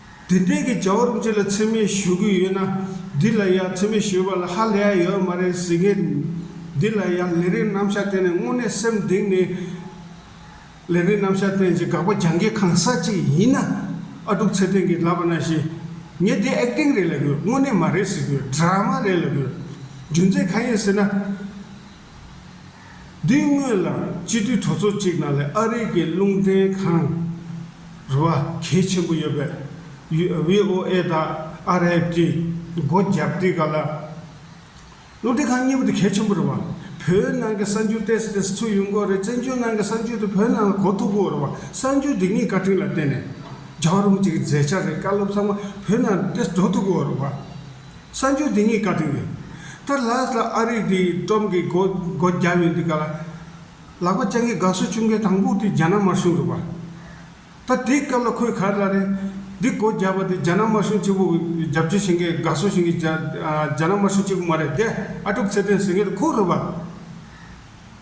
དུས་དེང་གི་བྱ་བ་རུ་ཅི་ལ་འཚེ་མེད་ཞུ་གི་ཡོད་ན་འདི་ལ་ཡང་འཚེ་མེད་ཞུ་བ་ལ་ཧ་ལས་ཡོད་མ་རེད་ཟེར་གི་འདི་ལ་ཡང་ལས་རིགས་རྣམ་བཞག་བསྟན་ནས་དངོས་གནས་སེམས་གདེང་ནས་ལས་རིགས་རྣམ་བཞག་བསྟན་ཅིག་དགག་པ་རྒྱང་གི་གང་ཟག་ཅིག་ཡིན་ན་ཨ་དཀྲུག་ཚེ་བརྟན་གྱིས་ལབ་པ་ན་ཞེ་ངས་འདི Acting རེད་ལབ་ཡོད་དངོས་གནས་མ་རེད་ཟེར་གི Drama རེད་ལབ་ཡོད་རྒྱུ་མཚན་གང་ཡིན་ཟེར་ན། འདི་སྔོན་ལ་སྤྱི་འཐུས་གྲོས་ཚོགས་གཅིག་ནང་ལས་ཨ་རིག་གི་རླུང་བརྟེན་ཁང་རུ་བ་གལ་ཆེན་པོ་ཡོད་པས VOA དང RFA གིས་སྒོ་བརྒྱབ་དུས་ག་ལ། རླུང་བརྟེན་ཁང་གཉིས་པོ་དེ་གལ་ཆེན་པོ་རུ་བ། བོད་ནང་གི་གསར་འགྱུར་ཏེས་ཏེས་ཚུགས་ཡོད་མགོ་རེད་བཙན་བྱོལ་ནང་གི་གསར་འགྱུར་དེ་བོད་ནང་ལ་གོ་ཐུབ་མགོ་རུ་བ་གསར་འགྱུར་འདི་གཉིས་བཀའ་ཁྲི་ལ་བརྟེན་ནས་རྒྱག་རུང་གཅིག་མཛད་འཆར་རེད་བཀའ་སློབ་ཚང་མ་བོད་ནང་ཏེས་འགྲོ་ཐུབ་མགོ་རུ་བ། གསར་འགྱུར་དེ་གཉིས་ཀ་དྲན་ཡོད། ད་ལྷ་ས་ཨ་རིག་དེའི་སྒྲོམ་གྱི་སྒོ་སྒོ་བརྒྱབ་ཡོད་འདུག་ག་ལ། ལག་པ་སྤྱང་ཀི་དགའ་བསུ་བྱུང་མཁན་དང་པོ་དེ་རྒྱ་ནག་དམར་གཞུང་རེད་བ། ད་དེའི་སྐབས་ལ་ཁོས་ག་ལ་རེད། འདི་སྒོ་བརྒྱབ་པ་དེ་རྒྱ་ནག་དམར་གཞུང་གཅིག་པོ་རྒྱབ་སྐྱོར་བྱེད་མཁན་དགའ་བསུ་བྱེད་མཁན་རྒྱ་རྒྱ་ནག་དམར་གཞུང་གཅིག་པོ་མ་རེད་དེ་ཨ་ཀྲུག་ཚེ་བརྟན་ཟེར་མཁན་དེ་ཁོ་རེད་བ།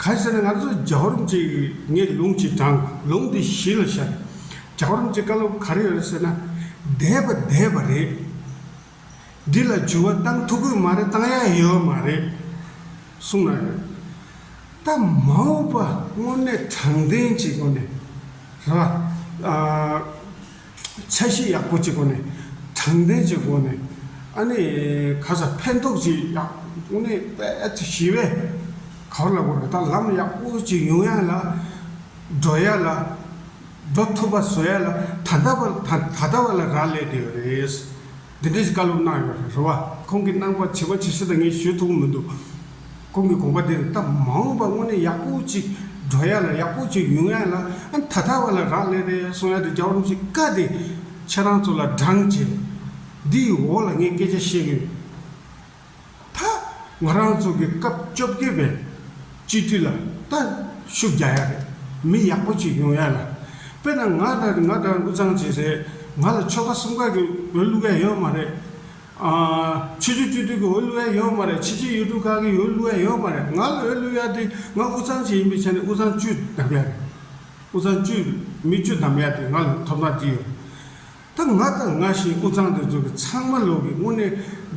གང་ཟེར་ན་ང་ཚོ་རྒྱ་གོར་མཇེ་ངས་ལུང་གཅིག་དྲང་ལུང་འདི་གཞི་ལ་བཞག་རྒྱ་གོར་མཇེ་བཀའ་སློབ་ག་རེ་ཡོད་ཟེར་ན་འདས་པ་འདས་པ་རེད། འདི་ལ་འཇུ་བ་བཏང་ཐུག་གི་མ་རེད་བཏང་ཡ་ཡོད་མ་རེད་གསུང་ན་ཡོད། ད་མ་འོངས་པ་དངོས་གནས་དྲང་བདེན་གྱི་སྒོ་ནས་རེད་པ། འཆར་གཞི་ཡག་པོ་གཅིག་སྒོ་ནས་དྲང་བདེན་གྱི་སྒོ་ནས་ཨ་ནི་ག་ས་ཕན་ཐོགས་ཅིག་ཡག་དབུ་ནི་པད་ཞི་བས་ག་ལ་དགོས་རེད་ད་ལམ་ཡག་པོ་གཅིག་ཡོང་ཡ་ལ་འགྲོ་ཡ་ལ་འགྲོ་ཐུབ་པ་བཟོ་ཡ་ལ་ད་ལྟ་བ་ད་ལྟ་བ་ལ་རག་ལས་དེ་རེད། འདི་འདྲའི་བཀའ་སློབ་གནང་ཡོད་རེད་རེད་བ། ཁོང་གིས་གནང་བར་བྱིས་པ་ཇི་སྲིད་དང་ངས་ཞུས་ཐུབ་མི་འདུག། ཁོང་གི་དགོངས་པ་དེ་རེད་སྟབས་མ་འོངས་པར་དངོས་གནས་ཡག་པོ་ཅིག་འགྲོ་ཡ་ལ་ཡག་པོ་ཅིག་ཡོང་ཡ་ལ་ཨ་ད་ལྟ་བ་ལ་རག་ལས་རེད་སོང་ཡ་དེ་རྒྱབ་རོམ་གྱི་བཀའ་དེ་ཁྱེད་རང་ཚོ་ལ་བགྲང་བྱེད། འདིའི་འོག་ལ་ངས་སྐད་ཆ་བཤད་གི་ཡོད། མཐའ། ང་རང་ཚོ་གི་སྐབས་བཅོ་བརྒྱད་པའི་སྤྱི་འཐུས་ལ་ལྟ་ཞུགས་རྒྱག་ཡ་རེད་མི་ཡག་པོ་ཅིག་ཡོང་ཡ་ལ། དཔེ་ན་ང་ལྟ་ང་ལྟར་འུ་ཚང་བྱེད་སའི་ང་ལ་ཆོལ་ཁ་གསུམ་ཀ་གི་འོས་བླུག་ཡ་ཡོད་མ་རེད། ཆོས་རྒྱུད་སྤྱི་འཐུས་ཀྱི་འོས་བླུག་ཡ་ཡོད་མ་རེད་ཕྱི་རྒྱལ་ཡུལ་གྲུ་ཁག་གི་འོས་བླུག་ཡ་ཡོད་མ་རེད་ང་ལ་འོས་བླུག་ཡ་དེ་ང་འུ་ཚང་བྱེད་ཡིན་པའི་ཆ་ནས་འུ་ཚང་བཅུ་བདམས་ཡ་རེད་འུ་ཚང་བཅུ་མི་བཅུ་བདམས་ཡ་དེ་ང་ལ་ཐོབ་ཐང་ཅི་ཡོད། ད་ང་དང་ང་བཞིན་དབུས་གཙང་དུ་འཛུལ་བ་ཚང་མ་ལོག་གི་དངོས་གནས་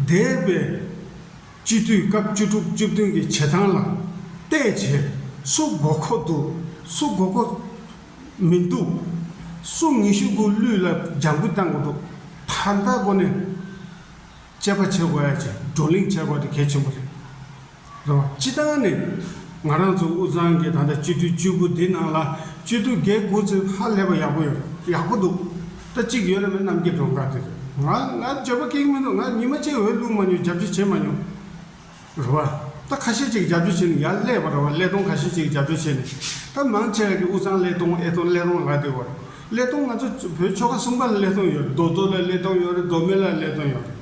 འདས་པའི་སྤྱི་འཐུས་སྐབས་བཅུ་དྲུག་བཅུ་བདུན་གྱི་བྱེད་སྟངས་ལ་བལྟས་རྗེས་སུ་མགོ་མཁོ་འདུག་སུ་མགོ་མཁོ་མི་འདུག་སུ་ངེས་ཤུགས་སྒོས་ལུས་ལ་རྒྱང་བུ་བཏང་གི་འདུག་ད་ལྟ་སྒོ་ནས་དཔྱད་པ་བྱེད་དགོས་ཡ་བྱས་བགྲོ་གླེང་བྱས་དགོས་དེ་གལ་ཆེན་པོ་རེད། རོ། སྤྱི་བཏང་ནས། ང་རང་ཚོ་དབུས་གཙང་གི་ད་ལྟ་སྤྱི་འཐུས་བཅུ་དགུ་འདི་ནང་ལ་སྤྱི་འཐུས་བརྒྱད་དགུ་ཚེ་ཧ་ལས་པ་ཡག་པོ་ཡོད་ཡག་པོ་འདུག་ད་གཅིག་ཡོད་རེད་མོད་གནམ་སྐྱེ་སྒྲོན་དཀར་དེ་རེད་ང་ང་འཇབ་པ་ཀེག་མི་འདུག་ང་ཉི་མ་གཅིག་འོད་བླུགས་མ་མྱོང་འཇབ་རྒྱུ་བྱེད་མ་མྱོང། རེད་བ། ད་ཁ་ཤས་ཅིག་འཇབ་རྒྱུ་བྱེད་ནས་ཡར་སླེབས་པ་རེད་བ་ཀླད་སྟོང་ཁ་ཤས་ཅིག་འཇབ་རྒྱུ་བྱེད་ནས་ད་མང་ཆེ་བ་གི་དབུས་གཙང་ཀླད་སྟོང་ཨེ་སྟོང་ཀླད་རོང་ལགས་དེ་བ་རེད་ཀླད་སྟོང་ང་ཚོ་བོད་ཆོལ་ཁ་གསུམ་ཀ་ལ་ཀླད་སྟོང་ཡོད་རེད་རྡོ་རྡོ་ལ་ཀླད་སྟོང་ཡོད་རེད་རྡོ་སྨད་ལ་ཀླད་སྟོང་ཡོད་རེད།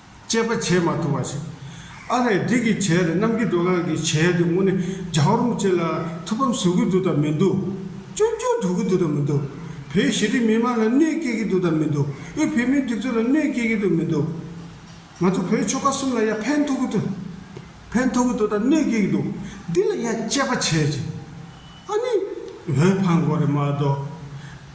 དཔྱད་པ་བྱས་མ་ཐུབ་པ་ཞིག། ཨ་རེ་འདི་གི་བྱས་རེད་གནམ་གྱི་སྒྲོ་གང་གི་བྱས་དེ་དངོས་གནས་རྒྱ་བོར་མི་བྱེད་ལ་ཐུགས་ཕམ་བཟོ་གི་འདུག་དང་མི་འདུག་ཅུང་ཅུང་དོགས་ཀྱི་འདུག་དང་མི་འདུག་བོད་ཞི་བདེ་མི་མང་ལ་གནོད་སྐྱེལ་གྱི་འདུག་དང་མི་འདུག་དབུས་བོད་མིའི་སྒྲིག་འཛུགས་ལ་གནོད་སྐྱེལ་གྱི་འདུག་མི་འདུག་ང་ཚོ་བོད་ཆོལ་ཁ་གསུམ་ལ་ཡ་ཕན་ཐོགས་ཀྱི་འདུག་ཕན་ཐོགས་ཀྱི་འདུག་དང་གནོད་སྐྱེལ་གྱི་འདུག་འདི་ལ་ཡ་དཔྱད་པ་བྱས་ཅིང་ཨ་ནི་འོས་འཕངས་དགོས་རེད་མ་གཏོགས།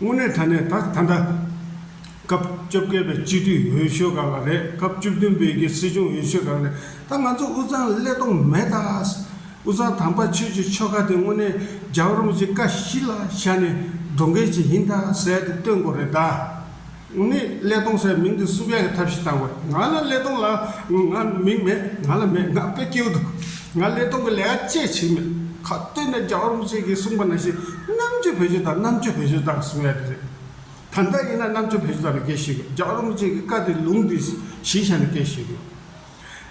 དངོས་གནས་ད་ནས་ད་ད་ལྟ། སྐབས་བཅོ་བརྒྱད་པའི་སྤྱི་འཐུས་འོས་ཤོས་ག་ལ་རེད་སྐབས་བཅུ་བདུན་པའི་རྒྱའི་སྲིད་སྐྱོང་འོས་ཤོས་ག་ལ་རེད་ད་ང་ཚོ་དབུས་གཙང་ལ་ཀླད་སྟོང་མེད་ད། དབུས་གཙང་དམ་པ་ཆོས་ཀྱི་ཆོ་ག་དེ་དངོས་གནས་རྒྱ་གར་རོམ་གྱི་ཀ་བཞི་ལ་ཤར་ནས་སྒྲོག་འགལ་གྱི་ཡིན་ད་ཟེར་ཏེ་བཏོན་དགོས་རེད་ད། ནི་ཀླད་སྟོང་སའི་མིང་དུ་སུ་བས་ཐབས་ཤེས་བཏང་བས་ང་ལ་ཀླད་སྟོང་ལ་ང་མིང་མེད་ང་ལ་མེད་ང་དཔེ་སྐྱེལ་འདུག་ང་ཀླད་སྟོང་གི་ལས་ཀ་ཅེས་བྱེད་མེད་ཁ་བཏོད་ནས་རྒྱ་གར་མི་བཅས་ཀྱིས་གསུངས་པ་ནང་བཞིན་རྣམ་དཔྱོད་བེད་སྤྱོད་དང་རྣམ་དཔྱོད་བེད་སྤྱོད་དང་གསུངས་ཡ་དེ་རེད། ད་ལྟ་ཡིན་ན་རྣམ་དཔྱོད་བེད་སྤྱོད་དང་ནི་སྐད་བཤད་དགོས་རྒྱ་གར་མི་བཅས་ཀྱི་བཀའ་དེ་ལུང་དེ་གཞི་བཞག་ནས་སྐད་བཤད་དགོས།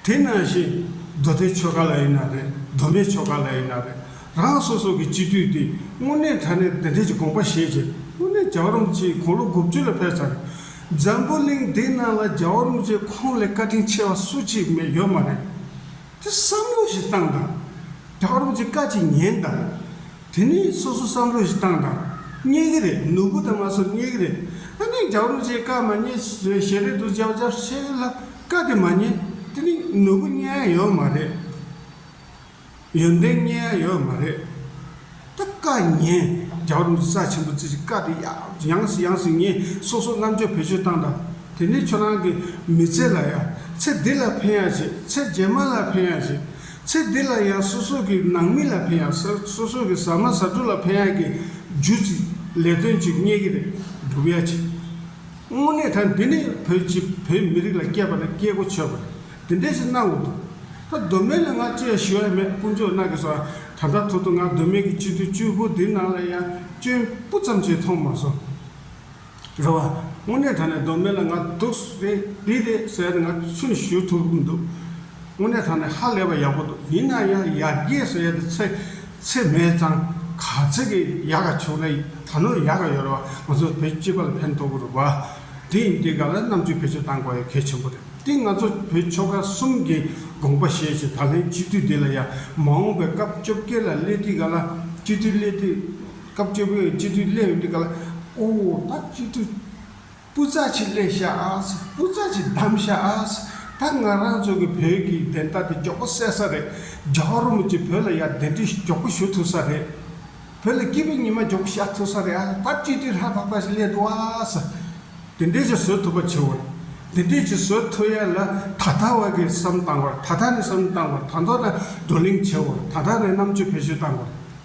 དེས་ན་ཞེས། མདོ་སྡེའི་ཆོ་ག་ལ་ཡིན་ན་རེད་སྡོམ་པའི་ཆོ་ག་ལ་ཡིན་ན་རེད་རང་སོ་སོ་གི་སྤྱི་འཐུས་དེས་དངོས་གནས་ད་ནས་འདི་འདྲའི་ཀྱི་དགོངས་པ་བཞེས་རྗེས་དངོས་གནས་རྒྱ་བ་རོམ་ཅེས་དགུང་ལོ་དགུ་བཅུ་ལ་ཕེབས་ཚར། འཛམ་བུ་གླིང་འདི་ན་ལ་རྒྱ་བ་རོམ་ཅེས་ཁོང་ལས་བཀའ་དྲིན་ཆེ་བ་སུ་གཅིག་མེད་ཡོད་མ་རེད། དེ་བསམ་བློ་ཞིག་བཏང་དང། རྒྱ་བ་རོམ་ཅེས་བཀའ་གཅིག་ཉན་དང། དེ་ནི་སོ་སོ་བསམ་བློ་ཞིག་བཏང་དང་རྙེད་ཀྱི་རེད་ནོར་བུ་དང་མ་སོར་རྙེད་ཀྱི་རེད་ཨ་ནི་རྒྱག་རུང་བྱས་བཀའ་མ་རྙེད་ཟོས་ཞེས་རེད་འདུག་བྱས་བྱས་ཤེས་ལ་བཀའ་དེ་མ་རྙེད་དེ་ནི་ནོར་བུ་རྙེད་ཡ་ཡོད་མ་རེད་ཡོན་ཏན་རྙེད་ཡ་ཡོད་མ་རེད་ད་བཀའ་རྙེད་རྒྱག་རུང་ས་ཆེན་པོ་ཚིག་བཀའ་དེ་ཡང་ཟིག་ཡང་ཟིག་རྙེད་སོ་སོ་རྣམ་དཔྱོད་བེད་སྤྱོད་བཏང་དང་དེ་ནི་ཁྱོད་རང་གི་མི་ཚེ་ལ་ཡ་ཚེ་འདི་ལ་ཕན་ཡ་ཞིག་ཚེ་རྗེས་མ་ལ་ཕན་ཡ་ཞིག་ཚེ་འདི་ལ་ཡང་སོ་སོ་གི་ནང་མི་ལ་ཕན་ཡག་སོ་སོ་སོ་གི་ཟ་མ་ཟ་འགྲོ་ལ་ཕན་ཡག་གི་རྒྱུ་ཅི་ལས་དོན་ཅིག་རྙེད་ཀྱི་རེད་འགྲུབ་ཡག་ཅིག་དངོས་གནས་ད་འདི་ནི་བོད་ཀྱི་བོད་མི་རིགས་ལ་སྐྱེས་པ་ན་སྐྱེས་སྒོ་ཆོད་པ་རེད་འདི་འདྲས་ཞིག་གནང་འོག་འདུག་ད་གདོད་མའི་ལ་ང་ཅི་ཡང་ཞུ་ཡག་མེད་དཀོན་མཆོག་གནང་གི་སོང་ད་ལྟ་ཐོག་ཏུ་ང་གདོད་མའི་གི་སྤྱི་འཐུས་བཅུ་དགུ་འདི་ནང་ལ་ཡང་སྐྱོན་སྤུ་ཙམ་ཅིག་མཐོང་མ་སོང། རེད་བ། དངོས་གནས་དྲ་ནས་སྡོམ་མེད་ལ་ང་སྡུག་རེད་འདི་རེད་ཟེར་ན་ང་ཚོས་ཞུ་ཐུབ་མི་འདུག་དངོས་གནས་དྲ་ནས་ཧ་ལས་པ་ཡག་པོ་འདུག་ཡིན་ན་ཡང་ཡར་རྒྱས་སུ་ཡ་དེ་ཚེ་ཚེ་མེད་ཙང་ག་ཚེ་གི་ཡག་ག་བྱུང་ན་ད་ནོར་ཡག་ག་ཡོད་རེད་བ་ང་ཚོ་བོད་སྤྱི་པ་ལ་ཕན་ཐོག་གི་རེད་བ། དེ་ཡིན་དེ་ག་ལ་རྣམ་དཔྱོད་བེད་སྤྱོད་གཏང་དགོས་ཡ་གལ་ཆེན་པོ་རེད་དེ་ང་ཚོ་བོད་ཆོལ་ཁ་གསུམ་གི་དགོངས་པ་བཞེས་ཅིག་ད་ལན་སྤྱི་འཐུས་འདི་ལ་ཡ་མ་འོངས་པའི་སྐབས་བཅོ་བརྒྱད་ལ་སླེ་དུས་ག་ལ་སྤྱི་འཐུས་སླེ་དུས། སྐབས་བཅུ་པོའི་སྤྱི་འཐུས་སླེ་ཡོད་འདུག་ག་ལ། ཨོ་ད་སྤྱི་འཐུས། སྤུ་རྩ་ཆེ་སླེ་ཤ་ཨཱས་སྤུ་རྩ་ཆེ་བདམས་ཤ་ཨཱས། ད་ང་རང་ཚོ་གི་བོད་ཀྱི་བདེན་མཐའ་དེ་མགྱོགས་པོ་གསལ་ས་རེད། རྒྱ་གར་རོ་མོ་ཅི་བོད་ལ་ཡ་བདེན་འདྲི་མགྱོགས་པོ་ཞུ་ཐུབ་ས་རེད། བོད་ལ་སྐྱིད་པའི་ཉི་མ་མགྱོགས་པོ་ཤར་ཐུབ་ས་རེད་ཨ་ད་སྤྱི་འཐུས་ལྷ་ཐག་ཐག་ཞིག་སླེ་འདུག་ཨཱས། དེ་འདྲས་ཅིག་བཟོ་ཐུབ་པ་བྱོས། དེ་འདྲས་ཅིག་བཟོ་ཐུབ་ཡ་ལ་ད་ད་བར་གྱི་བསམ་བཏང་བར་ད་ད་ནས་བསམ་བཏང་བར་ད་མདོ་ན་བགྲོ་གླེང་བྱས་བར་ད་ད་ནས་རྣམ་དཔྱོད་འཕེལ་ཤུགས་བཏང་བར།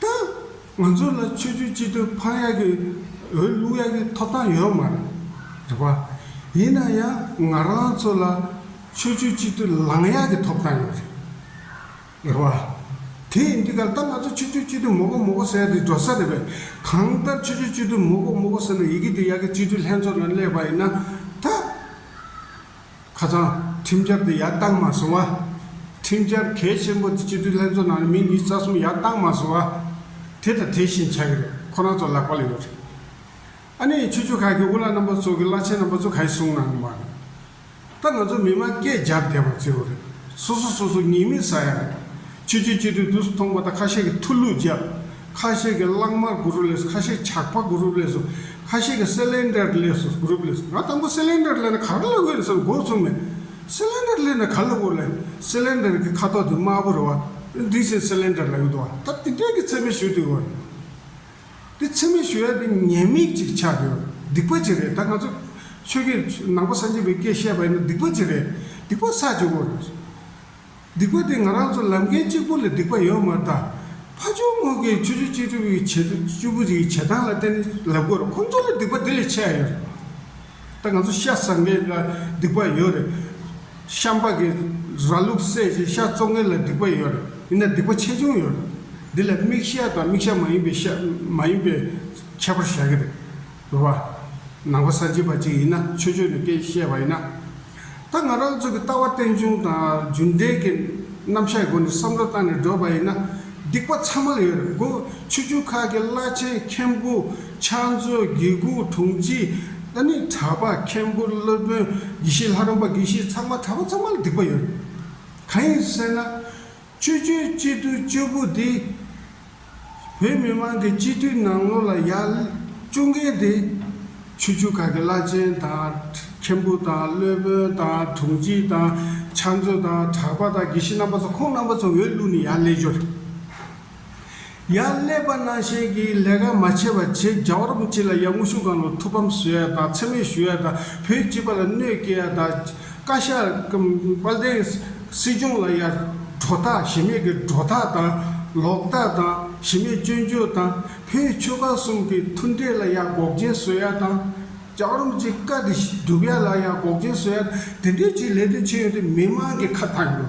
ད། ང་ཚོ་ལ་ཆོས་བརྒྱུད་སྤྱི་འཐུས་འཕང་ཡག་གི་འོས་བླུག་ཡག་གི་ཐོབ་ཐང་ཡོད་མ་རེད་པ། ཡིན་ན་ཡང་ང་རང་ཚོ་ལ་ཆོས་བརྒྱུད་སྤྱི་འཐུས་ལངས་ཡག་གི་ཐོབ་ཐང་ཡོད་རེད་པ། དེ་ཡིན་དུས་གལ་ཏེ་ང་ཚོ་ཆོས་བརྒྱུད་སྤྱི་འཐུས་མོ་གོ་མོ་གོ་ཟེར་དེ་འགྲོ་ས་རེད་པས། གང་ལྟར་ཆོས་བརྒྱུད་སྤྱི་འཐུས་མོ་གོ་མོ་གོ་ཟེར་ནས་ཡི་གེ་དེ་ཡག་གི་སྤྱི་འཐུས་ལྷན་ཚོགས་ནང་སླེབས་པ་ཡིན་ན་ད། ཁ་སང། ཁྲིམས་འཆར་དེ་ཡར་བཏང་མ་སོང་བ། ཁྲིམས་འཆར་གལ་ཆེན་པོ་དེ་སྤྱི་འཐུས་ལྷན་ཚོགས་ནང་ནས་མི་གཉིས་རྩ་གསུམ་ཡར་བཏང་མ་སོང་བ། དེ་དང་དེ་བཞིན་བྱ་གི་རེད་ཁོ་རང་ཚོ་ལག་པ་ལ་ཡོད་རེད། ཨ་ནེ་ཡི་ཆོས་ཕྱོགས་ཁག་གི་དབུ་བླ་རྣམ་པ་ཚོ་གི་བླ་ཆེན་རྣམ་པ་ཚོ་ག་ཡི་གསུང་གནང་མ་རེད། ད་ང་ཚོ་མི་དམངས་སྐད་རྒྱག་བསྡད་པ་བརྩི་རོགས་རེད། སོ་སོ་སོ་སོ་ཉེས་མིང་ཟ་ཡ་རེད། ཆུ་ཆུ་ཆུ་དུས་དུས་སུ་ཐོངས་པ་དང་ཁ་ཤས་ཀྱིས་ཐུ་ལུ་བརྒྱབ། ཁ་ཤས་ཀྱིས་གླང་དམར་དགུ་རུ་བསླེས་སོ་ཁ་ཤས་ཇག་པ་དགུ་རུ་བསླེས་སོ་ཁ་ཤས་ཀྱིས་སེ་ལེན་ཏྲར་བསླེས་སོ་དགུ་རུ་བསླེས་སོ་ང་དང་པོ་སེ་ལེན་ཏྲར་བསླེས་ན་ག་རེ་ལ་དབུལ་བསམ་དགོས་ཚུལ་མེད། སེ་ལེན་ཏར་བསླེས་ན་ག་ལ་དབུལ་བསླེས་སེ་ལེན་ཏར་གྱི་ཁ་དོག་དེ་དམར་པོ་རེད་བ། དེ་བཞིན་སེ་ལེན་ཏར་ལ་ཡོད་དོ་བ་ད་དེ་དོན་གྱི་ཚད་མས་ཞུ་དུས་བ། དེ་ཚད་མས་ཞུ་ཡ་དེ་ཉེས་དམིགས་ཅིག་ཆགས་དུས་བ་སྡིག་པ་ཅིག་རེད་ད་ང་ཚོ་ཆོས་ཁས་ནང་པ་སངས་རྒྱས་པའི་སྐད་བཤད་པ་ཡིན་ན་སྡིག་པ་ཅིག་རེད་སྡིག་པ་བསགས་ཅིག་བ། སྡིག་པ་དེ་ང་རང་ཚོ་ལམ་མཁན་གཅིག་པོ་ལ་སྡིག་པ་ཡོད་མ་ད། ཕ་ཇོ་དངུལ་གྱིས་ཆུ་ཆུ་གཅིག་སྒྲིལ་བའི་བྱེད་སྤྱོད་པོ་རིགས་བྱེད་སྟངས་ལ་བརྟེན་ནས་ལབ་དགོས་ཁོང་ཚོ་ལ་སྡིག་པ་དེ་ལས་ཆེ་ཡོད་རེད། ད་ང་ཚོ་ཤ་ཟ་མཁན་ལ་སྡིག་པ་ཡོད་རེད། ཤ་འབག་གི་ར་ལུག་བསད་རྗེས་ཤ་བཙོང་མཁན་ལ་སྡིག་པ་ཡོད་རེད་ཡིན་ན་སྡིག་པ་ཆེ་ཆུང་ཡོད་རེད། འདི་ལ་མིག་ཤ་དང་མིག་ཤ་མ་ཡིན་པའི་ཤ་མ་ཡིན་པའི་ཁྱད་པར་བཞག་གི་རེད། རོ། ནང་པ་ས་བྱི་བ་ཅིག་ཡིན་ན་ཆོས་ཆོས་ནས་སྐད་བཤད་པ་ཡིན་ན། ད་ང་རང་ཚོ་གི་ལྟ་བ་རྟེན་འབྱུང་དང་རྒྱུ་འབྲས་ཀྱི་རྣམ་གཞག་སྒོ་ནས་བསམ་བློ་བཏང་ནས་བསྒྲོད་པ་ཡིན་ན་སྡིག་པ་ཚང་མ་ལ་ཡོད་རེད་གོ་ཆོས་བརྒྱུད་ཁག་གི་བླ་ཆེན་མཁན་པོ་ཕྱག་མཛོད་དགེ་ཁུ་དྲུང་སྤྱི་ཨ་ནི་གྲ་པ་མཁན་པོ་སློབ་དཔོན་དགེ་བཤེས་ལྷ་རམས་པ་དགེ་བཤེས་ཚང་མ་གྲ་པ་ཚང་མ་ལ་སྡིག་པ་ཡོད་རེད་གང་ཡིན་ཟེར་ན། བཅོས་བསྒྱུར་སྤྱི་འཐུས་བཅུ་དགུ་དེ་བོད་མི་མང་གི་སྤྱི་འཐུས་ནང་ལོ་ལ་ཡར་བཅུ་མཁན་དེ་ཆུ་ཆུ་ག་གི་བླ་ཆེན་དང་མཁན་པོ་དང་བློན་དཔོན་དང་དྲུང་སྐྱིད་དང་ཕྱག་མཛོད་དང་གྲགས་པ་དང་དགེ་བཤེས་རྣམ་པ་ཚོ་ཁོང་རྣམ་པ་ཚོ་འོས་བླུགས་ནས་ཡར་ལས་སྦྱོར། ཡར་ཀླད་པ་གནང་ཞེན་གྱིས་ལས་ཀ་མ་བྱས་པ་བྱེད་རྒྱ་བོར་མི་བྱེད་ལ་ཡར་དངོས་ཤུགས་གང་ལ་ཐུག་ཕམ་བཟོས་ཡ་དང་འཚེ་མེད་ཞུ་ཡ་དང་བོད་སྤྱི་པ་ལ་གནོད་སྐྱེལ་ཡ་དང། བཀའ་ཤག་དཔལ་ལྡན་སྲིད་སྐྱོང་ལ་ཡར་གྲོ་ཐག་ཞེ་མེད་ཀྱི་སྒྲོ་ཐག་དང། ལོག་ལྟ་དང་ཞེ་མེད་སྐྱོན་བརྗོད་དང། བོད་ཆོལ་ཁ་གསུམ་གྱི་མཐུན་འབྲེལ་ལ་ཡར་འགོག་རྐྱེན་བཟོས་ཡ་དང། རྒྱ་བོར་མི་བྱེད་བཀའ་འདི་བསྒྲུབ་ཡ་ལ་ཡར་འགོག་རྐྱེན་བཟོས་ཡ་དང་དེ་འདྲའི་ཆེད་ལས་དོན་བྱས་ཡོང་དུས་མི་དམངས་ཀྱི་ཁ་ཐག་འགྱོ།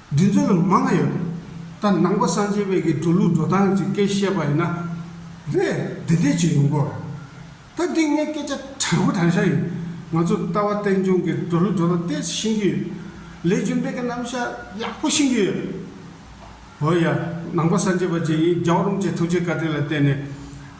བདུན་ཚོད་ལ་མང་ང་ཡོད། ད་ནང་པ་སངས་རྒྱས་བེ་གི་འགྲོ་ལུགས་འགྲོ་སྟངས་ཀྱི་སྐད་བཤད་པ་ཡིན་ན། བེ་བདེ་བདེ་བྱེད་ཡོང་གོ། ད་འདི་ངའི་སྐད་ཆ་དྲང་པོ་དྲང་ཤག་ཡིན། ང་ཚོ་ལྟ་བ་བསྟན་སྐྱོང་གི་འགྲོ་ལུགས་འགྲོ་སྟངས་དེ་ཤེས་ཀྱི་ཡོད། ལས་རྒྱུ་འབྲས་ཀྱི་རྣམ་གཞག་ཡག་པོ་ཤེས་ཀྱི་ཡོད། འོ་ཡ། ནང་པ་སངས་རྒྱས་བར་གྱི་ཡིན་རྒྱའོ་རུང་བཅས་ཐུགས་རྗེ་བཀའ་དྲིན་ལ་བརྟེན་ནས།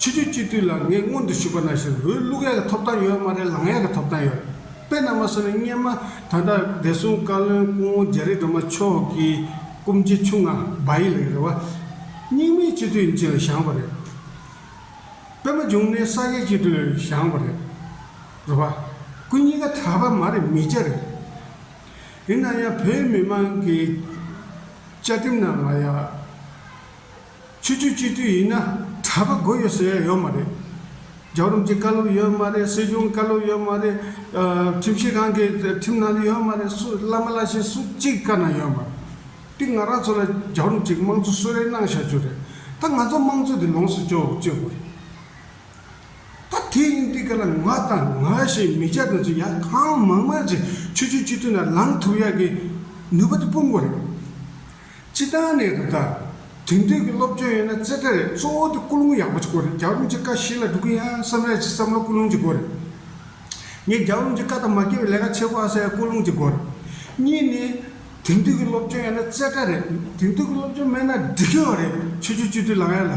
ཕྱི་ཆུ་སྤྱི་དུས་ལ་ངས་སྔོན་དུ་ཞུས་པ་ན་བཞིན་རུའི་བླུག་ཡག་གི་ཐོབ་ཐང་ཡོད་མ་རེད་ལངས་ཡག་གི་ཐོབ་ཐང་ཡོད། དཔེ་རྣལ་མ་སོ་ནི་སྙེ་མ་ད་ལྟ་བདེ་སྲུང་བཀའ་བློན་སྐུ་ངོ་རྒྱ་རི་སྒྲོལ་མ་མཆོག་གི་སྐུ་མཆེད་ཆུང་ང་སྦ་ཡི་ལིང་རེད་བ། སྙིང་མའི་སྤྱི་དུས་འབྱིན་ལ་བཞག་པ་རེད། པད་མ་འབྱུང་གནས་ས་སྐྱའི་སྤྱི་དུས་བཞག་པ་རེད། རེད་བ། ཁོ་གཉིས་ཀ་གྲྭ་པ་མ་རེད་མི་སྐྱ་རེད། ཡིན་ན་ཡང་བོད་མི་མང་གི་བཅའ་ཁྲིམས་ནང་ལ་ཡ། ཆུ་ཆུ་སྤྱི་འཐུས་ཡིན་ན་གྲྭ་པ་དགོས་ཡོད་ཟེར་ཡ་ཡོད་མ་རེད། རྒྱ་རོམ་གྱི་བཀའ་སློབ་ཡོད་མ་རེད་སྲིད་སྐྱོང་བཀའ་སློབ་ཡོད་མ་རེད། ཁྲིམས་ཞིབ་ཁང་གི་ཁྲིམས་ནང་དུ་ཡོད་མ་རེད་སུ་བླ་མ་བླ་ཆེན་སུ་གཅིག་བཀའ་ན་ཡོད་མ་རེད། དེ་ང་རང་ཚོ་ལ་རྒྱ་རོམ་གྱི་དམངས་གཙོ་གསོལ་རས་གནང་བཞག་རྒྱུ་རེད་ད་ང་ཚོ་དམངས་གཙོ་དེ་ལོངས་སུ་སྤྱོད་སྤྱོད་དགོས་རེད། ད་དེ་ཡིན་དེ་ག་ལ་ང་དང་ང་ཞེས་མི་བྱ་དོན་ཚོ་ཡ་གང་མང་མང་ཅིག་ཆུ་ཆུ་སྤྱི་འཐུས་ན་ལངས་ཐུབ་ཡག་གི་ནུས་པ་དེ་སྤུངས་དགོས་རེད། སྤྱི་བཏང་གནད་དུ་བསྟར། དེང་དུས་ཀྱི་སློབ་སྦྱོང་ཡོད་ན་རྩེ་གྲ་རེད་གཙོ་བོ་དེ་སྐུ་རླུང་ཡག་པོ་ཅིག་དགོས་རེད་རྒྱག་རླུང་ཅིག་ཀ་བཞི་ལ་འགྲོ་གི་ཡིན་ཨང་བསམ་ཡས་ཀྱི་བསམ་བློ་སྐུ་རླུང་ཅིག་དགོས་རེད། ངས་རྒྱག་རླུང་ཅིག་ཀ་དང་མ་སྐྱེ་བའི་ལས་ཀ་བྱེད་དགོས་ཨ་ས་ཡས་སྐུ་རླུང་ཅིག་དགོས་རེད། གཉིས་ནི། དེང་དུས་ཀྱི་སློབ་སྦྱོང་ཡོད་ན་རྩེ་གྲ་རེད་དེང་དུས་ཀྱི་སློབ་སྦྱོང་མེད་ན་འགྲིག་གི་ཨོ་རེད་ཆོས་ཆོས་སྤྱི་འཐུས་ལང་ཡ་ལ།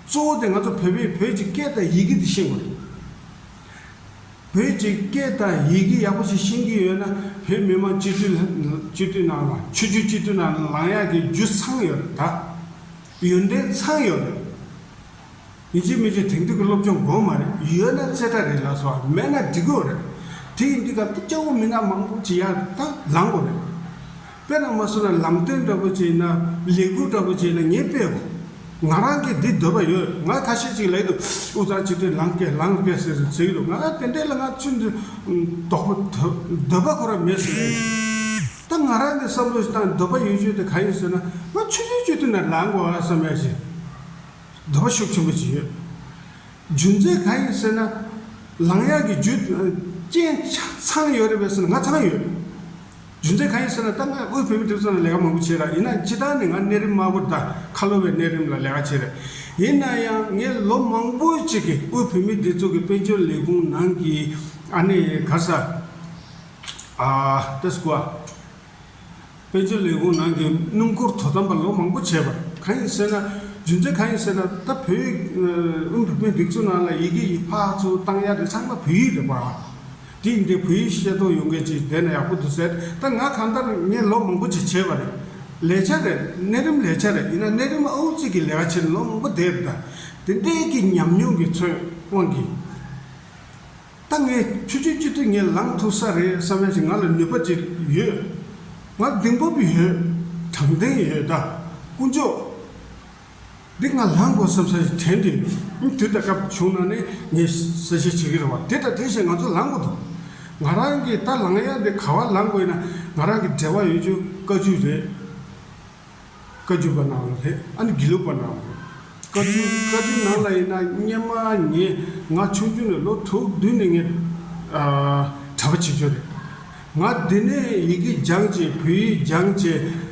གཙོ་བོ་དེ་ང་ཚོ་བོད་པས་བོད་ཀྱི་སྐད་དང་ཡི་གེ་འདི་ཤེས་དགོས་རེད། བོད་ཀྱི་སྐད་དང་ཡི་གེ་ཡག་པོ་ཞིག་ཤེས་ཀྱི་ཡོད་ན་བོད་མི་མང་སྤྱི་འཐུས་སྤྱི་འཐུས་ནང་ལ་ཆོས་རྒྱུད་སྤྱི་འཐུས་ནང་ལ་ལངས་ཡག་གི་རྒྱུ་ཚང་ཡོད་རེད་ད། ཡོན་ཏན་ཚང་ཡོད་རེད། ཡིན་གཅིག་མིན་གཅིག་དེང་དུས་ཀྱི་སློབ་སྦྱོང་དགོས་མ་རེད་ཡོད་ན་རྩེ་གྲ་རེད་ལགས་སོ་མེད་ན་སྒྲིག་དགོས་རེད། དེ་ཡིན་དུས་སྐབས་དེ་སྐྱ་བོ་མི་སྣ་མང་པོ་ཅིག་ཡར་ལངས་དགོས་རེད། དཔེར་ན་མ་སོང་ན་ལམ་སྟོན་འདྲ་པོ་བྱེད་ན་ལས་ཁུར་འདྲ་པོ་བྱེད་ན་ངས་དཔེ་ཧོ། ང་རང་གིས་འདི་འདོད་པ་ཡོད་ང་ཁ་ཤས་ཅིག་ལས་དུ་འུ་ཚང་སྤྱི་མཐུས་ལང་སྐད་ལང་སྐད་ཟེར་ཟེར་གྱི་འདུག་ང་རང་དེ་འདྲས་ལ་ང་ཚོས་འདི་དོག་པོ་འདོད་པ་ཁོ་རང་མེད་ཟེར་ཡོད་རེད། ད་ང་རང་གི་བསམ་བློ་དང་འདོད་པ་ཡོད་ཆོས་དེ་ག་ཡིན་ཟེར་ན་ང་ཆུ་ཚོད་སྤྱི་མཐུས་ནང་ལང་དགོས་ཨ་བསམ་ཡ་བཞིན་འདོད་པ་ཤུགས་ཆེན་པོ་ཅིག་ཡོད། རྒྱུ་མཚན་ག་ཡིན་ཟེར་ན་ལང་ཡག་གི་རྒྱུ་རྐྱེན་ཚང་ཡོད་རེད་པས་ཟེར་ན་ང་ཚང་ཡོད། རྒྱུ་མཚན་གང་ཡིན་ཟེར་ན་ད་ང་དབུས་བོད་མི་དེ་ཚོ་ལ་ལས་ཀ་མང་པོ་བྱས་ར་ཡིན་ན་སྤྱི་བཏང་ནས་ང་གནས་རིམ་དམར་པོར་ད་ཁ་ལོ་བའི་གནས་རིམ་ལ་ལས་ཀ་བྱས་ར་ཡིན་ན་ཡང་ངས་ལོ་མང་པོ་ཅིག་གི་དབུས་བོད་མི་དེ་ཚོ་གི་དཔལ་འབྱོར་ལས་ཁུངས་ནང་གི་ཨ་ནེ་ག་ས་ཨ་ཏི་སི་ཀོ་དཔལ་འབྱོར་ལས་ཁུངས་ནང་གི་སྣུམ་འཁོར་དོ་དམ་པ་ལོ་མང་པོ་བྱས་པ་གང་ཡིན་ཟེར་ན་རྒྱུ་མཚན་གང་ཡིན་ཟེར་ན་ད་བོད་དབུས་བོད་མི་འདི་ཚོ་ནང་ལ་ཡི་གེ་ཡིག་ཕག་ཚོ་བཏང་ཡ་དེ་ཚང་མ་བོད་ཡིག་རེད་པ། དུས་འདི་བོད་ཡིག་ཤེས་རྟོགས་ཡོང་མཁན་གྱི་སྡེ་ན་ཡག་པོ་འདུག་ཟེར་ད་ང་གང་ལྟར་ངས་ལོ་མང་པོ་ཅིག་བྱས་པ་རེད། ལས་བྱ་རེད་གནས་རིམ་ལས་བྱ་རེད་ཡིན་ན་གནས་རིམ་ཨའུ་གཙིགས་ཀྱི་ལས་ཀ་བྱས་ནས་ལོ་མང་པོ་བསྡད་ཡོད་ད། དེ་འདྲའི་གི་ཉམས་མྱོང་གི་ཚོད་དབང་གིས། ད་ངས་ཆུ་ཆུ་གཅིག་ཏུ་ངས་ལངས་ཐུབ་ས་རེད་བསམ་ཡ་ཞིག་ང་ལ་ནུས་པ་ཅིག་ཡོད། ང་གདིང་སྤོབས་ཡོད། དྲང་བདེན་ཡོད་ད། དཀོན་མཆོག། འདི་ང་ལྷ་མགོ་བསམ་ས་ཞིག་དྲན་ཏེ། དུས་དང་སྐབས་བྱུང་ན་ནི་ངས་གསལ་བཤད་བྱེད་ཀྱི་རེད་བ། དེ་དང་དེ་ཞེས་ང་ཚོ་ལངས་དགོས་དོ། ང་རང་གིས་ད་ལངས་ཡ་འདི་ག་བར་ལངས་དགོས་ན་ང་རང་གི་འབྲེལ་བ་ཡོད་རྒྱུ་བཀའ་བརྒྱུད་རེད། བཀའ་བརྒྱུད་པ་ནང་ལ་རེད་ཨ་ནི་དགེ་ལུགས་པ་ནང་ལ་རེད། བཀའ་བརྒྱུད་བཀའ་བརྒྱུད་ནང་ལ་ཡིན་ན་སྙན་མ་ངེས་ང་ཆུང་དུས་ནས་ལོ་དྲུག་བདུན་ནས་ངས་གྲྭ་པ་བྱེད་རྒྱུ་རེད། ང་འདི་ནས་ཡི་གེ་སྦྱངས་རྗེས་བོད་ཡིག་སྦྱངས་རྗེས།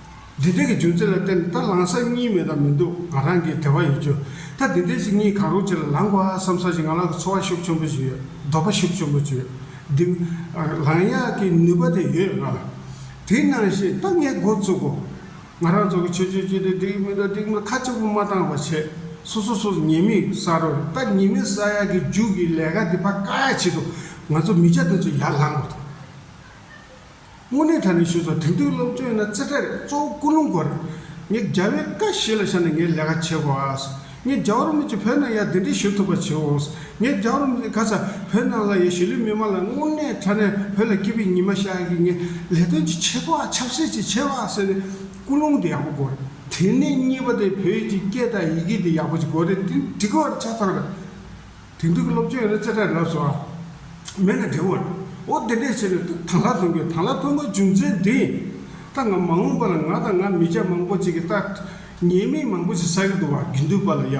འདི་དག་གི་རྒྱུ་མཚན་ལ་བརྟེན་ད་ལངས་ས་གཉིས་མེད་དང་མི་འདུག་ང་རང་གིས་དལ་བ་ཡོད་རྒྱུ་ད་འདི་ལྟའི་ཞིག་གཉིས་གང་རུང་བྱས་ལ་ལངས་དགོས་ཨ་བསམ་ས་ཞིག་ང་ལ་འཚོ་བ་ཤུགས་ཆེན་པོ་ཞིག་ཡོད་འདོད་པ་ཤུགས་ཆེན་པོ་ཅིག་ཡོད་འདུག་ལངས་ཡག་གི་ནུས་པ་དེ་ཡོད་ལ། དེ་ནང་བཞིན་ད་ངས་མགོ་བཙུགས་གོ། ང་རང་ཚོ་གི་ཆོས་བྱེད་ཀྱི་དེ་འདི་མི་འདྲ་འདི་མི་ཁ་གཅིག་པོ་མ་བཏང་བ་བྱས་སོ་སོ་སོ་ཉེས་མིང་བསགས་རོགས་རེད་ད་ཉེས་མིང་བསགས་ཡག་གི་རྒྱུགས་ཀྱི་ལས་ཀ་འདི་ཕ་ཀ་ཡག་བྱེད་འདུག་ང་ཚོ་མི་བྱ་འདི་ཚོ་ཡར་ལངས་དགོས་འདུག། དངོས་གནས་ད་ནི་ཞུས་སོ་དེང་དུས་སློབ་སྦྱོང་ཡིན་ན་རྩེ་གྲས་གཙོ་བོ་ཀུན་སློང་དགོས་རེད། ངས་རྒྱ་བལ་ཀ་བཞི་ལ་བཞག་ནས་ངས་ལས་ཀ་བྱེད་དགོས། ངས་རྒྱ་བོད་མི་ཚོས་བོད་ནང་ཡར་འདི་འདྲའི་ཞུ་ཐུབ་པ་བྱེད་འོང། ངས་རྒྱ་བོད་མི་ཚོས་ག་ས་བོད་ནང་ལ་ཡོད་གཞིས་ལུས་མི་མང་ལ་དངོས་གནས་ད་ནས་བོད་ལ་སྐྱིད་པའི་ཉི་མ་ཤར་གི་ངས་ལས་དོན་ཅིག་བྱེད་དགོས་ཨ་ཆབ་སྲིད་ཅིག་བྱེད་དགོས་ཨ་ཟེར་ནས་ཀུན་སློང་དེ་ཡག་པོ་དགོས་རེད། དེ་ནས་གཉིས་པ་དེ་བོད་ཀྱི་སྐད་དང་ཡི་གེ་དེ་ཡག་པོ་ཅིག་དགོས་རེད་དེ་འདི་གོ་བར་ཆ་ཚང་རེད། དོན་གྲུབ་སློབ་ཆེན་རེད་ཅེས་སྐྲག་དྲགས་སོ། མེད་ན་འབྲས་བུ། འོ་དེ་འདྲས་བྱས་ནས་ཐང་ལྷ་ཐོན་དགོས་ཐང་ལྷ་ཐོན་པའི་རྒྱུ་མཚན་དེ། ད་ང་མ་འོངས་པ་ལ་ང་དང་ང་མི་ཅག་མང་པོ་ཅིག་གིས་ལྟ། ཉེས་མིང་མང་པོ་ཞིག་བསགས་ཀྱི་འདུག་བ་རྒྱུན་དུལ་བ་ལ་ཡ།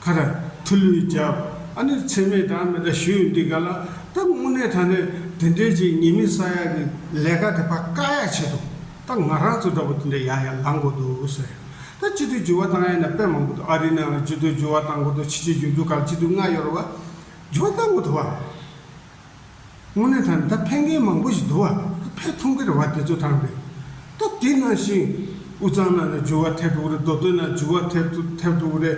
ཁ་ར། ཐུ་ལུའི་རྒྱབ། ཨ་ནི་མཚན་མེད་གྲངས་མེད་འདྲ་ཞུས་ཡོད་འདི་ག་ལ། ད་དངོས་གནས་ད་ནས་དེ་འདྲས་ཅིག་ཉེས་མིང་བསགས་ཡག་གི་ལས་ཀ་དེ་ཕ་བཀག་ཡག་བྱས་འདུག། ད་ང་རང་ཚོ་འདྲ་པོ་དེ་འདྲ་ཡང་ཡང་ལངས་དགོས་འདུག་ཟེར། ད་སྤྱི་འཐུས་འགྱུར་བ་བཏང་ཡ་ན་དཔེ་མང་པོ་འདུག་ཨ་རིའི་ནང་ལ་སྤྱི་འཐུས་འགྱུར་བ་བཏང་གོ་ཐོ་ཕྱི་ཕྱི་འགྱུར་འདུག་ག་ལ་སྤྱི་འཐུས་སྔ་ཡོར་བ་འགྱུར་བ་བཏང་གོ་ཐོ་བ། དངོས་གནས་ད་ད་ཕན་མཁན་མང་པོ་ཞིག་འདུག་བ་ད་ཕན་ཐུང་གི་རེད་བ་དེ་ཚོ་ཐང་པའི། ད་དེ་ནང་བཞིན་དབུས་གཙང་ནང་ལ་འགྱུར་བ་ཐེབས་འགྲོ་གི་རེད་མདོ་སྟོད་ནང་འགྱུར་བ་ཐེབས་འགྲོ་ཐེབས་འགྲོ་གི་རེད།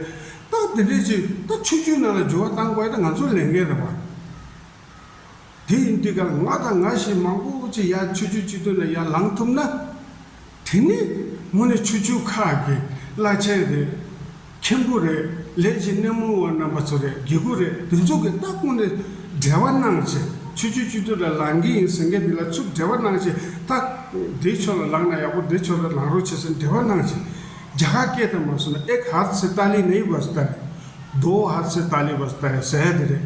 ད་དེ་འདྲས་ཅིག་ད་ཆུ་རྒྱུད་ནང་ལ་འགྱུར་བ་བཏང་དགོས་ཡ་ད་ང་ཚོ་ལས་འགན་རེད་བ། དེ་ཡིན་དུས་ཀྱང་ང་དང་ང་བཞིན་མང་པོ་ཅིག་ཡར་ཆུ་ཆུ་གཅིག་སྟོད་ནས་ཡར་ལངས་ཐུབ་ན། དེ་ནི་དངོས་གནས་ཆུ་ཆུ་ཁ་གི་བླ་ཆེན་རེད། མཁན་པོ་རེད་ལས་བྱེད་སྣེ་མོ་བ་རྣམ་པ་ཚོ་རེད་དགེ་སྐུ་རེད་འདི་ཚོ་གི་སྟབས་དངོས་གནས་འབྲེལ་བ་གནང་བྱེད་ཆུ་ཆུ་གཅིག་སྟོད་ལ་ལངས་ཀྱི་ཡིན་ཟེར་མཁན་དེ་ལ་ཆུ་འབྲེལ་བ་གནང་བྱེད་སྟབས་དེའི་ཕྱོགས་ལ་ལངས་ན་ཡག་པོ་དེའི་ཕྱོགས་ལ་ལངས་རོགས་བྱེད་ཟེར་འབྲེལ་བ་གནང་བྱེད། རྒྱ་གར་སྐད་དང་མ་སུ་ན་ཨེག་ཧར་ཚེ་ཏཱ་ལི་ནེ་ཡི་བ་སྟ་རེད། དོ་ཧར་ཚེ་ཏཱ་ལི་བ་སྟ་རེད་ཟེར་ཡ་དེ་རེད།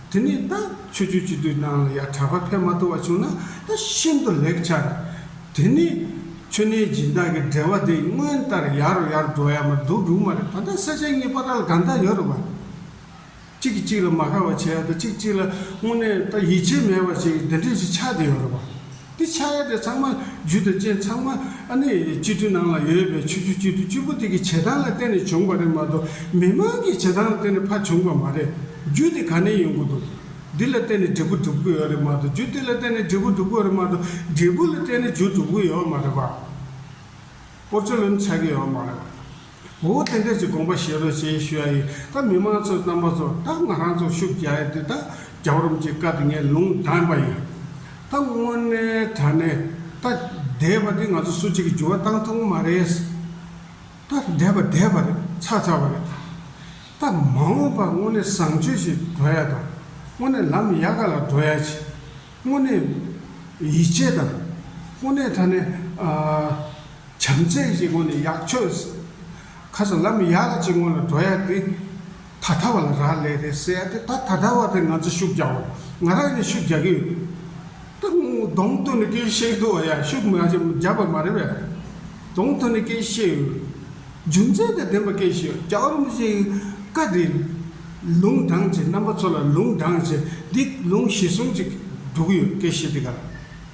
དེ་ནས་ད་ཆོས་སྤྱོད་སྤྱི་བསྡུས་སྣང་ལ་ཡང་གྲགས་པ་ཕལ་མ་ཐུ་བ་བྱུང་ན་ད་ཤིན་ཏུ་ལེགས་ཆ། དེ་ནས་ཆོས་གནས་སྦྱིན་བདག་གི་འགྲེལ་བ་འདི་སྔོན་ལྟར་ཡར་རོ་ཡར་འགྲོ་ཡ་མ་འདུག་འདུག་མ་རེད་ད་ལྟ་ས་ཆ་གཉིས་པ་ར་ལ་ག་འདྲ་ཡོད་རེད་བ། གཅིག་གིས་གཅིག་ལ་མ་ཁ་བ་བྱས་ཡོད་དོ་གཅིག་གཅིག་ལ་དངོས་གནས་ད་ཡིད་ཆེས་མེད་པ་ཞིག་འདི་འདྲས་ཞིག་ཆགས་བསྡད་ཡོད་རེད་བ། འདི་ཕྱག་གཡས་དེ་ཚང་མ་རྒྱུད་དང་རྐྱེན་ཚང་མ་ཨ་ནི་སྤྱི་འཐུས་ནང་ལ་ཡོད་པའི་ཆོས་རྒྱུད་སྤྱི་འཐུས་བཅུ་པོ་དེ་གི་བྱེད་སྟངས་ལ་བརྟེན་ནས་བྱུང་པ་རེད་མ་གཏོགས་མི་མང་གི་བྱེད་སྟངས་ལ་བརྟེན་ནས་ཕ་བྱུང་པ་མ་རེད། རྒྱུད་དེ་ག་ནས་ཡོང་གི་འདུག་འདི་ལ་བརྟེན་ནས་འབྲས་བུ་འགྲུབ་གི་ཡོད་རེད་མ་གཏོགས་རྒྱུད་དེ་ལ་བརྟེན་ནས་འབྲས་བུ་འགྲུབ་གི་ཡོད་རེད་མ་གཏོགས་འབྲས་བུ་ལ་བརྟེན་ནས་རྒྱུ་འགྲུབ་གི་ཡོད་མ་རེད་པ། སྐོར་རྩོད་ལེན་བྱ་གི་ཡོད་མ་རེད། བུ་བོ་རྟེན་འབྲེལ་གྱི་དགོངས་པ་ཞེས་རོལ་ཆེན་ཞུ་ཡ་ཡིན་ད་མི་མང་ཚོའི་རྣམ་པ་ཚོར་ད་ང་རང་ཚོ་ཤུགས་རྒྱག་ཡ་དེ་ད་རྒྱ་བོར་རམ་ཅི་དཀའ་དེ་ངས་ལུང་བསྟན་པ་ཡིན། ད་དངོས་གནས་དྲ་གནས་ད་བསྡད་པ་དེ་ང་ཚོ་སུ་གཅིག་གི་འགྱུར་བ་བཏང་ཐུབ་མ་རེད། ད་བསྡད་པ་བསྡད་པ་རེད་ཚར་ཚར་བ་རེད། ད་མ་འོངས་པར་དངོས་གནས་བཟང་སྤྱོད་ཞིག་འགྲོ་ཡ་དང་དངོས་གནས་ལམ་ཡག་ག་ལ་འགྲོ་ཡ་ཆེ། དངོས་གནས། ཡིད་ཆེས་དང། དངོས་གནས་ད་ནི། བྱམས་བརྩེ་གཅིག་དགོས་ནི་ཡག་ཆོས། ཁ་སང་ལམ་ཡག་ལ་གཅིག་སྔོན་ལ་འགྲོ་ཡག་འདི། ད་ལྟ་བ་ལ་རག་ལས་རེད་ཟེར་ཡག་དེ་ད་ད་ལྟ་བ་དེ་ང་ཚོ་ཤུགས་རྒྱག་དགོས་ང་རང་ནས་ཤུགས་རྒྱག་གི་ཡོད། ད་གདོང་ཐོན་ནས་སྐད་བཤད་འདུག་བ་ཡག་ཤུགས་རྒྱག་པ་མ་རེད་པས། གདོང་ཐོན་ནས་སྐད་བཤད་ཡོད། རྒྱུ་མཚན་དང་ལྡན་པ་སྐད་ཞེས་བྱ་བ་རིམ་བཞིན་བཀའ་འདི་ལུང་དྲངས་ཅིང་རྣམ་པ་ཚོ་ལ་ལུང་དྲངས་ཅིང་འདི་ལུང་གཞི་གསུམ་གཅིག་འདུག་ཡོད་སྐད་ཤེས་དེ་ག་ལ་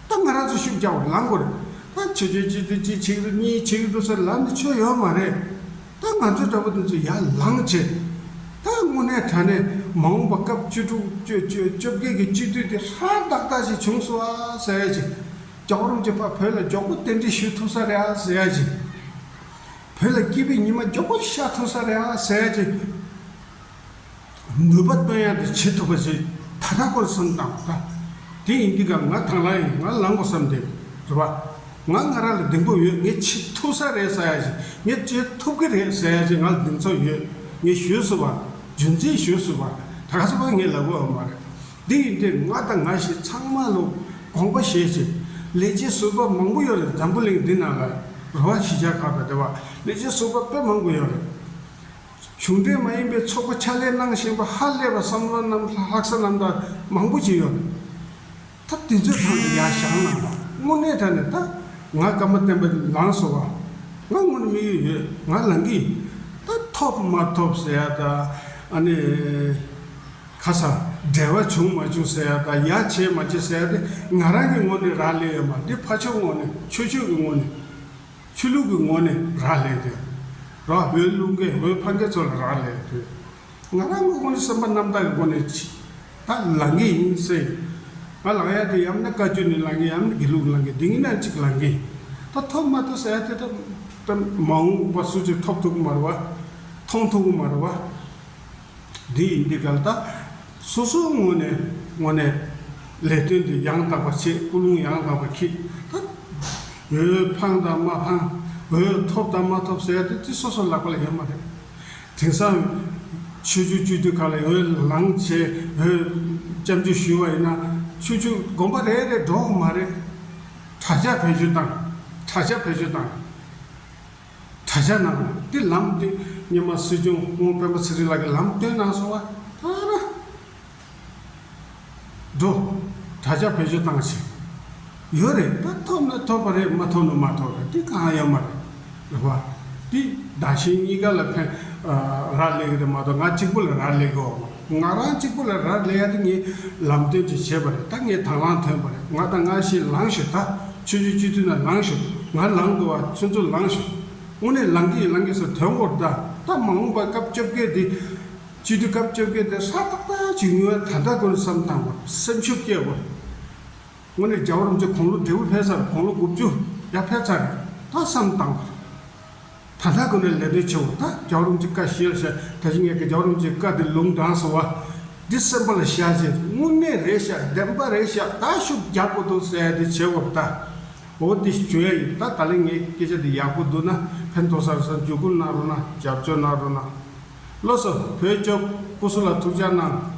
ད་ང་རང་ཚོ་ཤུགས་རྒྱག་པར་ལངས་དགོས་རེད་ད་ཆོས་ཆོས་གཅིག་ཏུ་གཅིག་ཆིག་ཏུ་གཉིས་ཆིག་ཏུ་ཟེར་ལབ་ནི་ཆོས་ཡོད་མ་རེད་ད་ང་ཚོ་འདྲ་པོ་དེ་ཚོ་ཡར་ལངས་ཆེད་ད་དངོས་གནས་དྲ་གནས་མ་འོངས་པ་སྐབས་བཅུ་དྲུག་བཅུ་བཅུ་བཅོ་བརྒྱད་ཀྱི་སྤྱི་འཐུས་དེ་ཧྲ་ཏག་ཏག་ཞིག་བྱུང་སོང་ཨ་ཟེར་ཡ་ཅིག་རྒྱ་གོ་རིམ་གྱི་བར་བོད་ལ་མགྱོགས་པོ་རྟེན་འབྲེལ་ཞུ་ཐུབ་ས་རེད་ཨ་ཟེར་ཡ་ཅིག་བོད་ལ་སྐྱིད་པའི་ཉི་མ་མགྱོགས་པོ་ཤར་ཐུབ་ས་རེད་ཨ་ཟེར་གྱི། ནུས་པ་བཏོན་ཡག་དེ་བྱེད་ཐུབ་པ་ཞིག་ད་ལྟ་སྐོར་བསམ་དང་ལྟ། དེ་ཡིན་དུས་ཀ་ང་ཐང་ལ་ཡིན་ང་ལང་གོ་བསམ་དེ་རེད་པ། ང་སྔ་ར་ལ་གདེང་སྤོབས་ཡོད་ངས་བྱེད་ཐུབ་ས་རེད་ཟེར་ཡག་ཞིག་ངས་བྱེད་ཐུབ་ཀི་རེད་ཟེར་ཡག་ཞིག་ང་ལ་གདེང་ཚོད་ཡོད་ངས་ཞུས་སྲིད་པ་རྒྱུ་མཚན་ཞུས་སྲིད་པ་ད་ག་ཚོད་པ་ངས་ལབ་དགོས་ཨ་མ་རེད། འདི་ཡི་དེབ་ལྔ་དང་ང་ཞེས་ཚང་མ་ལོ་དགོངས་པ་བཞེས་ཚེ། ལས་བྱེད་ཟུར་པ་མང་པོ་ཡོད་རེད་འཛམ་བུ་གླིང་འདི་ན་ལ་རུ་བ་གཞིས་ཆགས་ཁག་ཏུ་དེ་བ་ལས་བྱེད་ཟུར་པ་དཔེ་མང་པོ་ཡོད་རེད། གཞུང་འབྲེལ་མ་ཡིན་པའི་ཚོགས་པ་ཕྱག་ལས་གནང་བཞིན་པ་ཧ་ལས་པ་བསམ་བློ་རྣམ་ལྷག་ས་རྣམ་དག་མང་པོ་བྱས་ཡོད་རེད། ད་དེ་ཚོའི་ཐང་ནས་ཡར་བཞག་ན་དངོས་གནས་ད་ནས་ད་ང་སྐར་མ་བསྟན་པ་ལངས་སོང་བ། ང་དངོས་ནས་དམིགས་ཡུལ་ཡོད་ང་ལངས་ཀྱི་ཡིན། ད་ཐོབ་མ་ཐོབ་ཟེར་ཡ་ད་ཨ་ནི། ཁ་སང་འབྲེལ་བ་བྱུང་མ་བྱུང་ཟེར་ཡ་དང་ཡ་བྱས་མ་བྱས་ཟེར་ཡ་དེ་ང་རང་གི་ངོ་ནས་རག་ལས་ཡོད་མ་འདི་ཕ་ཆོས་ངོ་ནས་ཆོས་ཆོས་ཀྱི་ངོ་ནས། ཆོས་ལུགས་ཀྱི་ངོ་ནས་རག་ལས་དོན། རོ་བོད་ལུགས་འགལ་བོད་ཕ་འགལ་ཚོ་ལ་རག་ལས་དོན། ང་རང་གི་ངོ་ནས་སེམས་པ་རྣམ་དག་གི་སྒོ་ནས་ཕྱི་ད་ལང་གི་ཡིན་སེ། ང་ལང་ཡ་དེ་ཡམ་ན་བཀའ་རྒྱུད་ནས་ལང་གི་ཡམ་ན་དགེ་ལུགས་ལང་གི་དེ་གཉིས་ན་གཅིག་ལང་གི། ད་ཐོབ་མ་ཐོབ་ཟེར་ཡ་དེ་ད་མ་འོངས་པ་སུ་གཅིག་ཐོབ་ཐུབ་གི་མ་རེད་བ། མཐོང་ཐུབ་གི་མ་རེད་བ། འདི་ཡིས་འདི་གར་དང། སོ་སོའི་ངོ་ནས་ངོ་ནས། ལས་དོན་འདི་ཡང་དག་པར་བྱེད་སྐུ་རླུང་ཡང་དག་པར་འཁྱིལ། འོད་འཕང་དང་མ་འཕང། འོད་ཐོབ་དང་མ་ཐོབ་ཟེར་དུས་དེ་སོ་སོ་ལག་པ་ལ་ཡོད་མ་རེད། དེང་སང། ཆོས་རྒྱུད་སྤྱོད་དུས་ག་ལ་ཡིན་འོད་ལངས་བྱེད་འོད། སྐྱབས་འཇུག་ཞུ་བ་ཡིན་ན་ཆོས་རྒྱུད་དགོན་པ་རེ་རེར་འགྲོ་འོ་མ་རེད། དྲག་ཆ་བེད་སྤྱོད་དང། དྲག་ཆ་བེད་སྤྱོད་དང། དྲ་རྒྱ་ནང་དུ་ལམ་སྟོན་སྙན་མ་སྲིད་སྐྱོང་སྔོན་དཔོན་པོ་ཚེ་རིང་ལགས་ཀྱིས་ལམ་སྟོན་གནང་སོང་བ་ལྟར་ན། འགྲོ། དྲ་རྒྱ་བེད་སྤྱོད་བཏང་ཕྱིར། ཡོད་རེད་ད་ཐོབ་ན་ཐོབ་པ་རེད་མ་ཐོབ་ན་མ་ཐོབ་རེད་དེ་གང་ཡོད་མ་རེད། ལབ་པ། དེ་བདག་གཞན་གཉིས་ཀ་ལ་ཕན་རག་ལས་ཀྱི་རེད་མ་གཏོགས་ང་གཅིག་པོ་ལ་རག་ལས་ཀྱི་འོག་མ་རེད། ང་རང་གཅིག་པུ་ལ་རག་ལས་ཡ་དེ་ངས་ལམ་སྟོན་ཅིག་བྱས་པ་རེད་ད་ངས་དང་བླངས་ཐོན་པ་རེད་ང་དང་ང་ཤི་ལངས་ཤིག་ད་ཆོས་རྗེ་སྤྱི་འཐུས་ན་ལངས་ཤིག་ང་ལངས་དགོས་བ་ཚོད་ཚོད་ལངས་ཤིག་དངོས་གནས་ལངས་ཀྱི་ཡིན་ལངས་ཀྱི་སོ་དོན་གོ་བདའ་ད་མ་འོངས་པ་སྐབས་བཅོ་བརྒྱད་དེ་སྤྱི་འཐུས་སྐབས་བཅོ་བརྒྱད་དེ་ཧྲ་ཏག་ཏག་ཅིག་ངུ་ཡ་ད་ལྟ་དགོས་རེད་བསམ་དང་པོར་སེམས་ཤུགས་སྐྱེ་དགོས་རེད་དངོས་གནས་རྒྱ་བོར་འཛིན་གོང་ལོ་དྲེད་བུ་འཕེལ་ས་རུ་གོང་ལོ་དགུ་བཅུ་ཡ་འཕེལ་ཚར་རེད་ད་བསམ་དང་པོར། ད་ལྟ་དགོན་པའི་ལས་དོན་ཆེ་བ་དག་རྒྱག་རུང་ཅིག་ཀ་ཞེས་བྱ། ད་ཅི་ངས་ཀྱི་རྒྱག་རུང་ཅིག་ཀ་འདི་ལུང་དྲངས་སོ། འདི་གསན་པ་ལ་བཞག་ཅིག་དངོས་གནས་རེད་བཞག་བདེན་པ་རེད་བཞག་ད་ཤུགས་རྒྱག་པོ་འདུག་ཟེར་ཏེ་བྱེད་བབ་ལྟ་བུ་འདི་བྱོས་ཡིན་ད་ད་ལན་ངའི་སྐད་ཆ་འདི་ཡག་པོ་འདུག་ན་ཕན་ཐོག་སར་སར་འཇུག་སྒོམ་གནང་རོགས་གནང་རྒྱབ་སྐྱོར་གནང་རོགས་གནང། བློ་བཟང་བོད་སྐྱོབ་སྐུ་སྲུང་ལ་ཐུགས་ཅག་གནང།